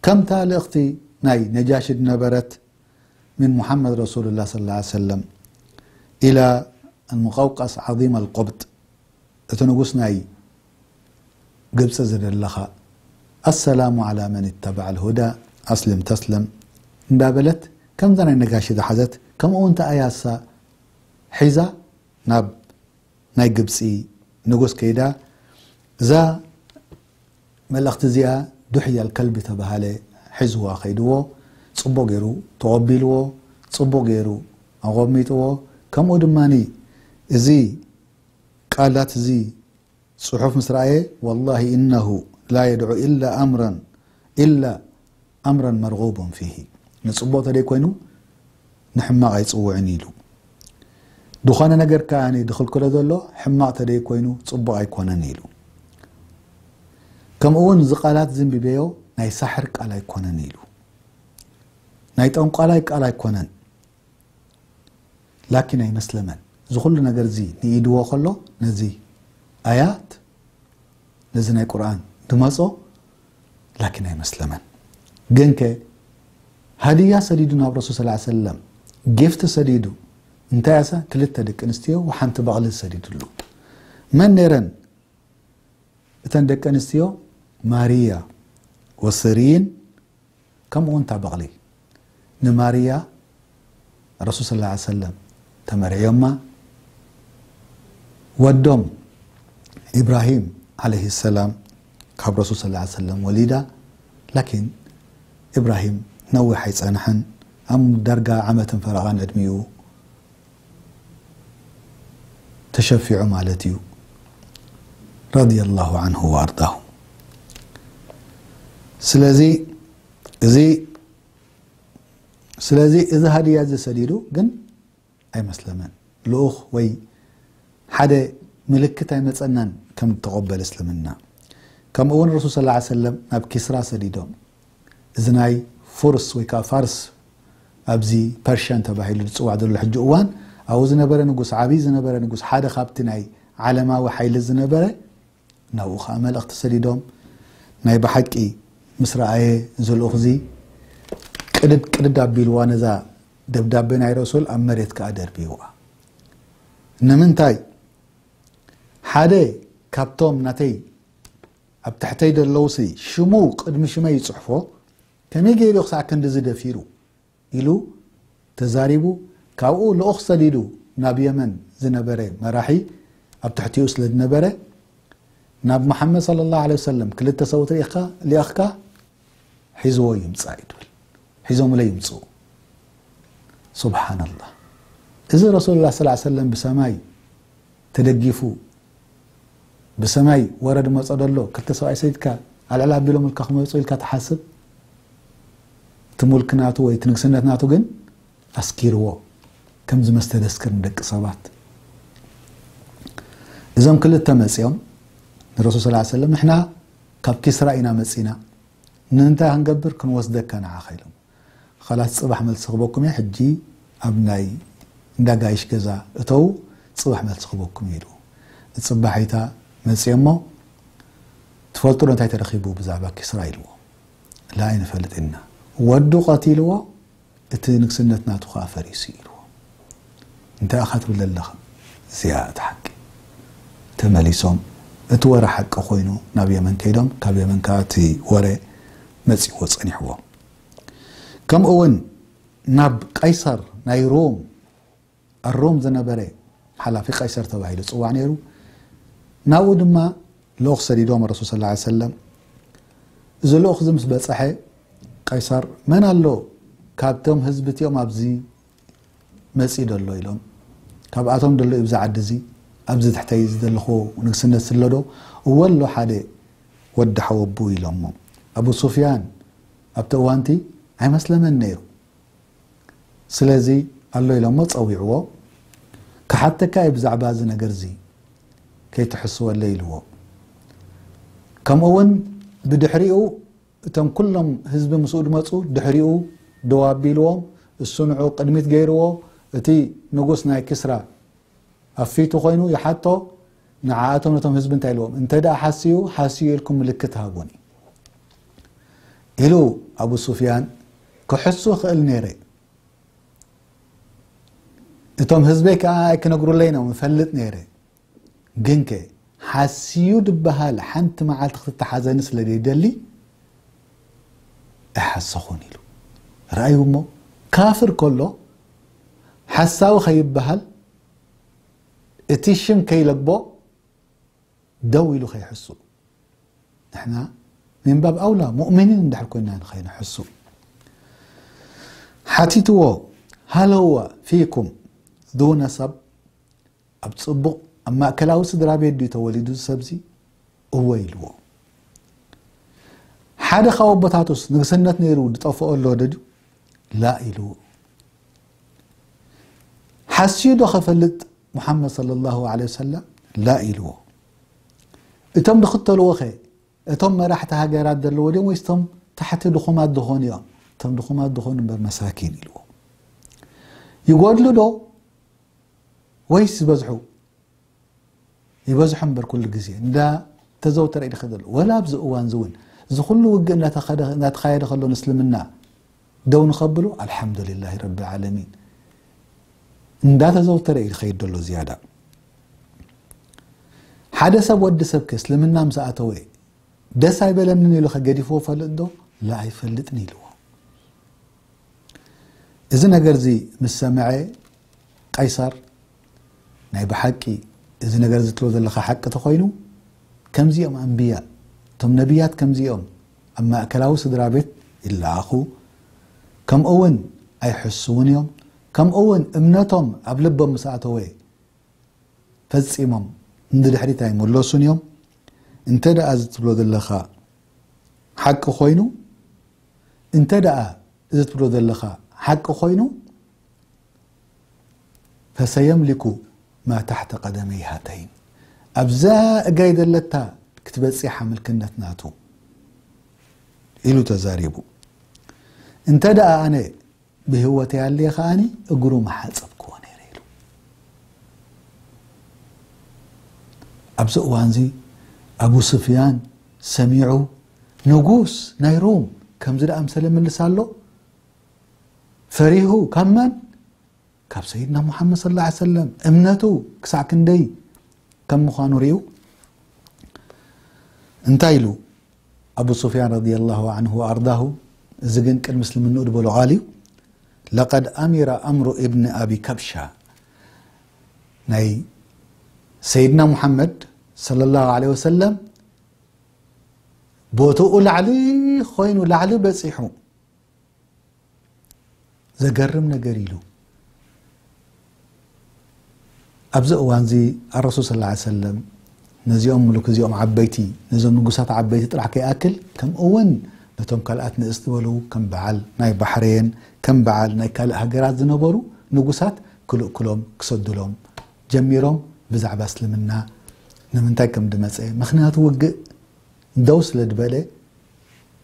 ከምታ ልእኽቲ ናይ ነጃሺ ድነበረት ምን ሙሓመድ ረሱሉላህ ሰለላሁ ዓለይሂ ወሰለም ኢላ ኣልሙቀውቀስ ዓዚም ኣልቆብጥ እቲ ንጉስ ናይ ግብፂ ዝደለኻ ኣሰላሙ ዓላ መን ይተባዕ ኣልሁዳ ኣስልም ተስለም እንዳበለት ከምዛ ናይ ነጋሺ ዝሓዘት ከምኡ እውን ተኣያሳ ሒዛ ናብ ናይ ግብጺ ንጉስ ከይዳ እዛ መልእኽቲ እዚኣ ዱሕያ ኣልከልቢ ተባሃለ ሒዝዋ ከይድዎ ጽቡቕ ገይሩ ተቐቢልዎ ጽቡቕ ገይሩ ኣቐሚጥዎ ከምኡ ድማ እዚ ቃላት እዚ ጽሑፍ ምስ ረኣየ ወላሂ እነሁ ላ የድዑ ኢላ ኣምረን ኢላ ኣምረን መርጉቡን ፊሂ ንጽቡቕ ተደይ ኮይኑ ንሕማቕ ኣይጽውዕን ኢዩ ኢሉ። ድኾነ ነገር ከኣ ድኽልክሎ ዘሎ ሕማቕ ተደይ ኮይኑ ጽቡቕ ኣይኮነን ኢሉ። ከምኡ ውን እዚ ቃላት እዚ እንቢበዮ ናይ ሳሕር ቃል ኣይኮነን ኢሉ። ናይ ጠንቋላይ ቃል ኣይኮነን። ላኪን ኣይመስለመን እዚ ኩሉ ነገር እዚ ንኢድዎ ከሎ ነዚ ኣያት ነዚ ናይ ቁርኣን ድመጾ ላኪን ኣይመስለመን ግንከ ሃድያ ሰዲዱ ናብ ረሱል ስ ሰለም ጊፍቲ ሰዲዱ እንታይ ኣሰ ክልተ ደቂ ኣንስትዮ ሓንቲ በቕሊ ሰዲድሉ መን ነረን እተን ደቂ ኣንስትዮ ማርያ ወስሪን ከምኡውን እታ በቕሊ ንማርያ ረሱል ስለ ላ ሰለም ተመርዕዮማ ወዶም ኢብራሂም ዓለይሂ ሰላም ካብ ረሱል ስለ ላ ሰለም ወሊዳ ላኪን ኢብራሂም ነዊሕ ኣይጸንሐን ኣብ ዳርጋ ዓመትን ፈረቓን ዕድሚኡ ተሸፊዑ ማለት እዩ ረድየላሁ ዓንሁ ወኣርዳሁ ስለዚ እዚ ስለዚ እዚ ሃድያ እዚ ሰዲዱ ግን ኣይመስለመን ልኡኽ ወይ ሓደ ምልክት ኣይመፀናን ከም ተቆበል እስልምና ከምኡ እውን ረሱል ስ ሰለም ናብ ኪስራ ሰዲዶም እዚ ናይ ፉርስ ወይ ከኣ ፋርስ ኣብዚ ፐርሽያን ተባሂሉ ዝጽዋዕ ዘሎ ሕጂ እዋን ኣብኡ ዝነበረ ንጉስ ዓቢ ዝነበረ ንጉስ ሓደ ካብቲ ናይ ዓለማዊ ሓይሊ ዝነበረ ናብኡ ከኣ መልእኽቲ ሰዲዶም ናይ ብሓቂ ምስ ረኣየ እዚ ልኡኽዚ ቅድድ ቅድድ ኣቢልዋ ነዛ ደብዳቤ ናይ ረሱል ኣብ መሬት ከኣ ደርቢዋ ንምንታይ ሓደ ካብቶም ናተይ ኣብ ትሕተይ ደለውሲ ሽሙ ቅድሚ ሽመይ ይጽሕፎ ከመይ ገይሩ ዩ ክሳዕ ክንድዚ ደፊሩ ኢሉ ተዛሪቡ ካብኡ ልኡኽ ሰዲዱ ናብ የመን ዝነበረ መራሒ ኣብ ትሕቲኡ ስለ ዝነበረ ናብ መሓመድ ሰለላሁ ዓለይሂ ወሰለም ክልተ ሰብኡት ሊእኽካ ሒዝዎ ይምፃእ እዩ ትብል ሒዞምለይ ይምፅኡ ሱብሓነላህ እዚ ረሱሉላህ ሰለላሁ ዐለይሂ ወሰለም ብሰማይ ተደጊፉ ብሰማይ ወረድ መጾ ደሎ ክልተ ሰብኣይ ሰይድካ ኣልዕል ኣቢሎም ልካ ክመፁ ኢልካ ትሓስብ እቲ ሙልክ ናቱ ወይ እቲ ንግስነት ናቱ ግን ኣስኪርዎ ከም ዝመስተደስክር ንደቂ ሰባት እዞም ክልተ መፅኦም ንረሱል ስ ሰለም ንሕና ካብ ኪስራ ኢና መጺና ንንታይ ሃንገብር ክንወስደካ ንዓኻ ኢሎም ኻላስ ጽባሕ መልሲ ክበኩም እየ ሕጂ ኣብ ናይ እንዳ ጋይሽ ገዛ እተዉ ጽባሕ መልሲ ክበኩም እየ ኢሉ ንጽባሒታ መጽየሞ ትፈልጡ ዶ እንታይ ተረኺቡ ብዛዕባ ኪስራ ኢልዎ ላ ኣይንፈልጥ ኢና ወዱ ቀቲልዎ እቲ ንግስነት ናቱ ከኣ ፈሪሱ ኢልዎ። እንታይ ኢኻ ትብል ዘለኻ? እዚኣ እታ ሓቂ። ተመሊሶም እቲ ወረ ሓቂ ኮይኑ ናብ የመን ከይዶም ካብ የመን ከኣ እቲ ወረ መጺእዎ ጸኒሕዎ። ከምኡ'ውን ናብ ቀይሰር ናይ ሮም። ኣብ ሮም ዝነበረ ሓላፊ ቀይሰር ተባሂሉ ይጽዋዕ ነይሩ። ናብኡ ድማ ልኡኽ ሰዲዶም ረሱል ሰለላሁ ዐለይሂ ወሰለም። እዚ ልኡኽ እዚ ምስ በጽሐ ቀይሰር መን ኣሎ ካብቶም ህዝቢ እቲኦም ኣብዚ መጺእ ደሎ ኢሎም ካብኣቶም ደሎ ኢብዚ ዓዲ እዚ ኣብዚ ትሕተይ ዝደለኹዎ ንግስነት ስለዶ እወ ኣሎ ሓደ ወዲ ሓወቡ ኢሎሞ ኣቡ ሱፍያን ኣብቲ እዋንቲ ኣይመስለመን ነይሩ ስለዚ ኣሎ ኢሎሞ ጸዊዕዎ ክሓተካ እየ ብዛዕባ እዚ ነገር እዚ ከይትሕስወለይ ኢልዎ ከምኡ ውን ብድሕሪኡ እቶም ኩሎም ህዝቢ ምስኡ ድመጹ ድሕሪኡ ደው ኣቢልዎም እሱ ንዑ ቅድሚት ገይርዎ እቲ ንጉስ ናይ ኪስራ ኣብ ፊቱ ኮይኑ ይሓቶ ንዓኣቶም ነቶም ህዝቢ እንታይ ኢልዎም እንተ ሓስዩ ሓስዩ ኢልኩም ምልክት ሃቡኒ ኢሉ ኣቡ ሱፍያን ክሕሱ ክእል ነይረ እቶም ህዝበይ ከዓ ኣይክነግሩለይ ኖም እፈልጥ ነይረ ግን ከ ሓስዩ ድበሃል ሓንቲ መዓልቲ ክትተሓዘኒ ስለ ዘይደሊ ኣይሓሰኹን ኢሉ ረኣዩ እሞ ካፍር ከሎ ሓሳዊ ከይበሃል እቲ ሽም ከይለቦ ደው ኢሉ ከይሕሱ ንሕና ምንባብ ኣውላ ሙእሚኒን እንድሕር ኮይና ንኸይንሕሱ ሓቲትዎ ሃለዋ ፊኩም ዱነ ሰብ ኣብ ፅቡቕ ኣብ ማእከላዊ ስድራ ቤት ድዩ ተወሊዱ ሰብዚ እወ ኢልዎ ሓደ ካብ ኣቦታቱስ ንግስነት ነይሩ ዝጠፍኦ ኣሎ ድዩ ላ ኢልዎ ሓስዩ ዶ ከፈልጥ ሙሓመድ ሰለላሁ ዓለይሂ ወሰለም ላ ኢልዎ። እቶም ዝኽተልዎ ከ እቶም መራሕቲ ሃገራት ዘለዎ ድዮም ወይስ እቶም ታሕቲ ድኹማት ዝኾኑ እዮም? እቶም ድኹማት ዝኾኑ እምበር መሳኪን ኢልዎ። ይጎድሉ ዶ ወይስ ዝበዝሑ? ይበዝሖ እምበር ኩሉ ግዜ እንዳ ተዘውተረ እዩ ዝኸደ ዘሎ ወላ ኣብዚ እዋን እዚ እውን እዚ ኩሉ ውግእ እናተኻየደ ከሎ ንእስልምና ደው ንኸብሉ ኣልሓምዱሊላሂ ረቢ ዓለሚን እንዳተዘውተረ እዩ ዝኸይድ ዘሎ ዝያዳ ሓደ ሰብ ወዲ ሰብ ከ እስልምና ምስ ኣተወ ደስ ኣይበለንን ኢሉ ከገዲፍዎ ፈልጥ ዶ ላ ኣይፈልጥን ኢልዎ እዚ ነገር እዚ ምስ ሰምዐ ቀይሳር ናይ ብሓቂ እዚ ነገር እዚ ትብሎ ዘለኻ ሓቂ ተኾይኑ ከምዚ እዮም ኣንብያ እቶም ነብያት ከምዚ እዮም ኣብ ማእከላዊ ስድራ ቤት ይለኣኹ ከምኡ እውን ኣይሕስውን እዮም ከምኡ እውን እምነቶም ኣብ ልቦም ምስ ኣተወ ፈጺሞም ንድሕሪት ኣይምለሱን እዮም እንተ ደኣ እዚ ትብሎ ዘለኻ ሓቂ ኮይኑ እንተ ደኣ እዚ ትብሎ ዘለኻ ሓቂ ኮይኑ ፈሰየምሊኩ ማ ታሕተ ቀደመይ ሃተይን ኣብዛ እጋይ ዘለታ ክትበጺሓ ምልክነት ናቱ ኢሉ ተዛሪቡ። እንተድኣ ኣነ ብህይወተይ ኣልየ ከኣ እግሩ ምሓጸብክዎ ነይረ ኢሉ። ኣብዚ እዋንዚ ኣቡ ሱፍያን ሰሚዑ ንጉስ ናይ ሩም ከምዚ ድኣምሰለ ምልስ ኣሎ? ፈሪሁ ካብ መን ካብ ሰይድና ሙሓመድ ስ ላ ሰለም እምነቱ ክሳዕ ክንደይ ከም ምዃኑ ርኡ እንታይ ኢሉ ኣቡ ሱፍያን ረድ ላ ን ኣርዳሁ እዚ ግን ቅድ ምስልምንኡ ድበሎ ቃል እዩ ለቀድ ኣሚራ ኣምሩ እብኒ ኣብ ካብሻ ናይ ሰይድና ሙሓመድ صለ ላه ለ ወሰለም ቦትኡ ላዕሊ ኮይኑ ላዕሊ በፂሑ ዘገርም ነገር ኢሉ ኣብዚ እዋን እዚ ኣረሱል ስ ሰለም ነዚኦም ምሉክ እዚኦም ዓበይቲ ነዞም ንጉሳት ዓበይቲ ጥራሕ ከይኣክል ከምኡ እውን ነቶም ካልኣት ንእስ ዝበሉ ከም በዓል ናይ ባሕረየን ከም በዓል ናይ ካልእ ሃገራት ዝነበሩ ንጉሳት ክልእክሎም ክሰድሎም ጀሚሮም ብዛዕባ እስልምና ንምንታይ ከም ድመፀ ምክንያቱ ውግእ ደው ስለ ድበለ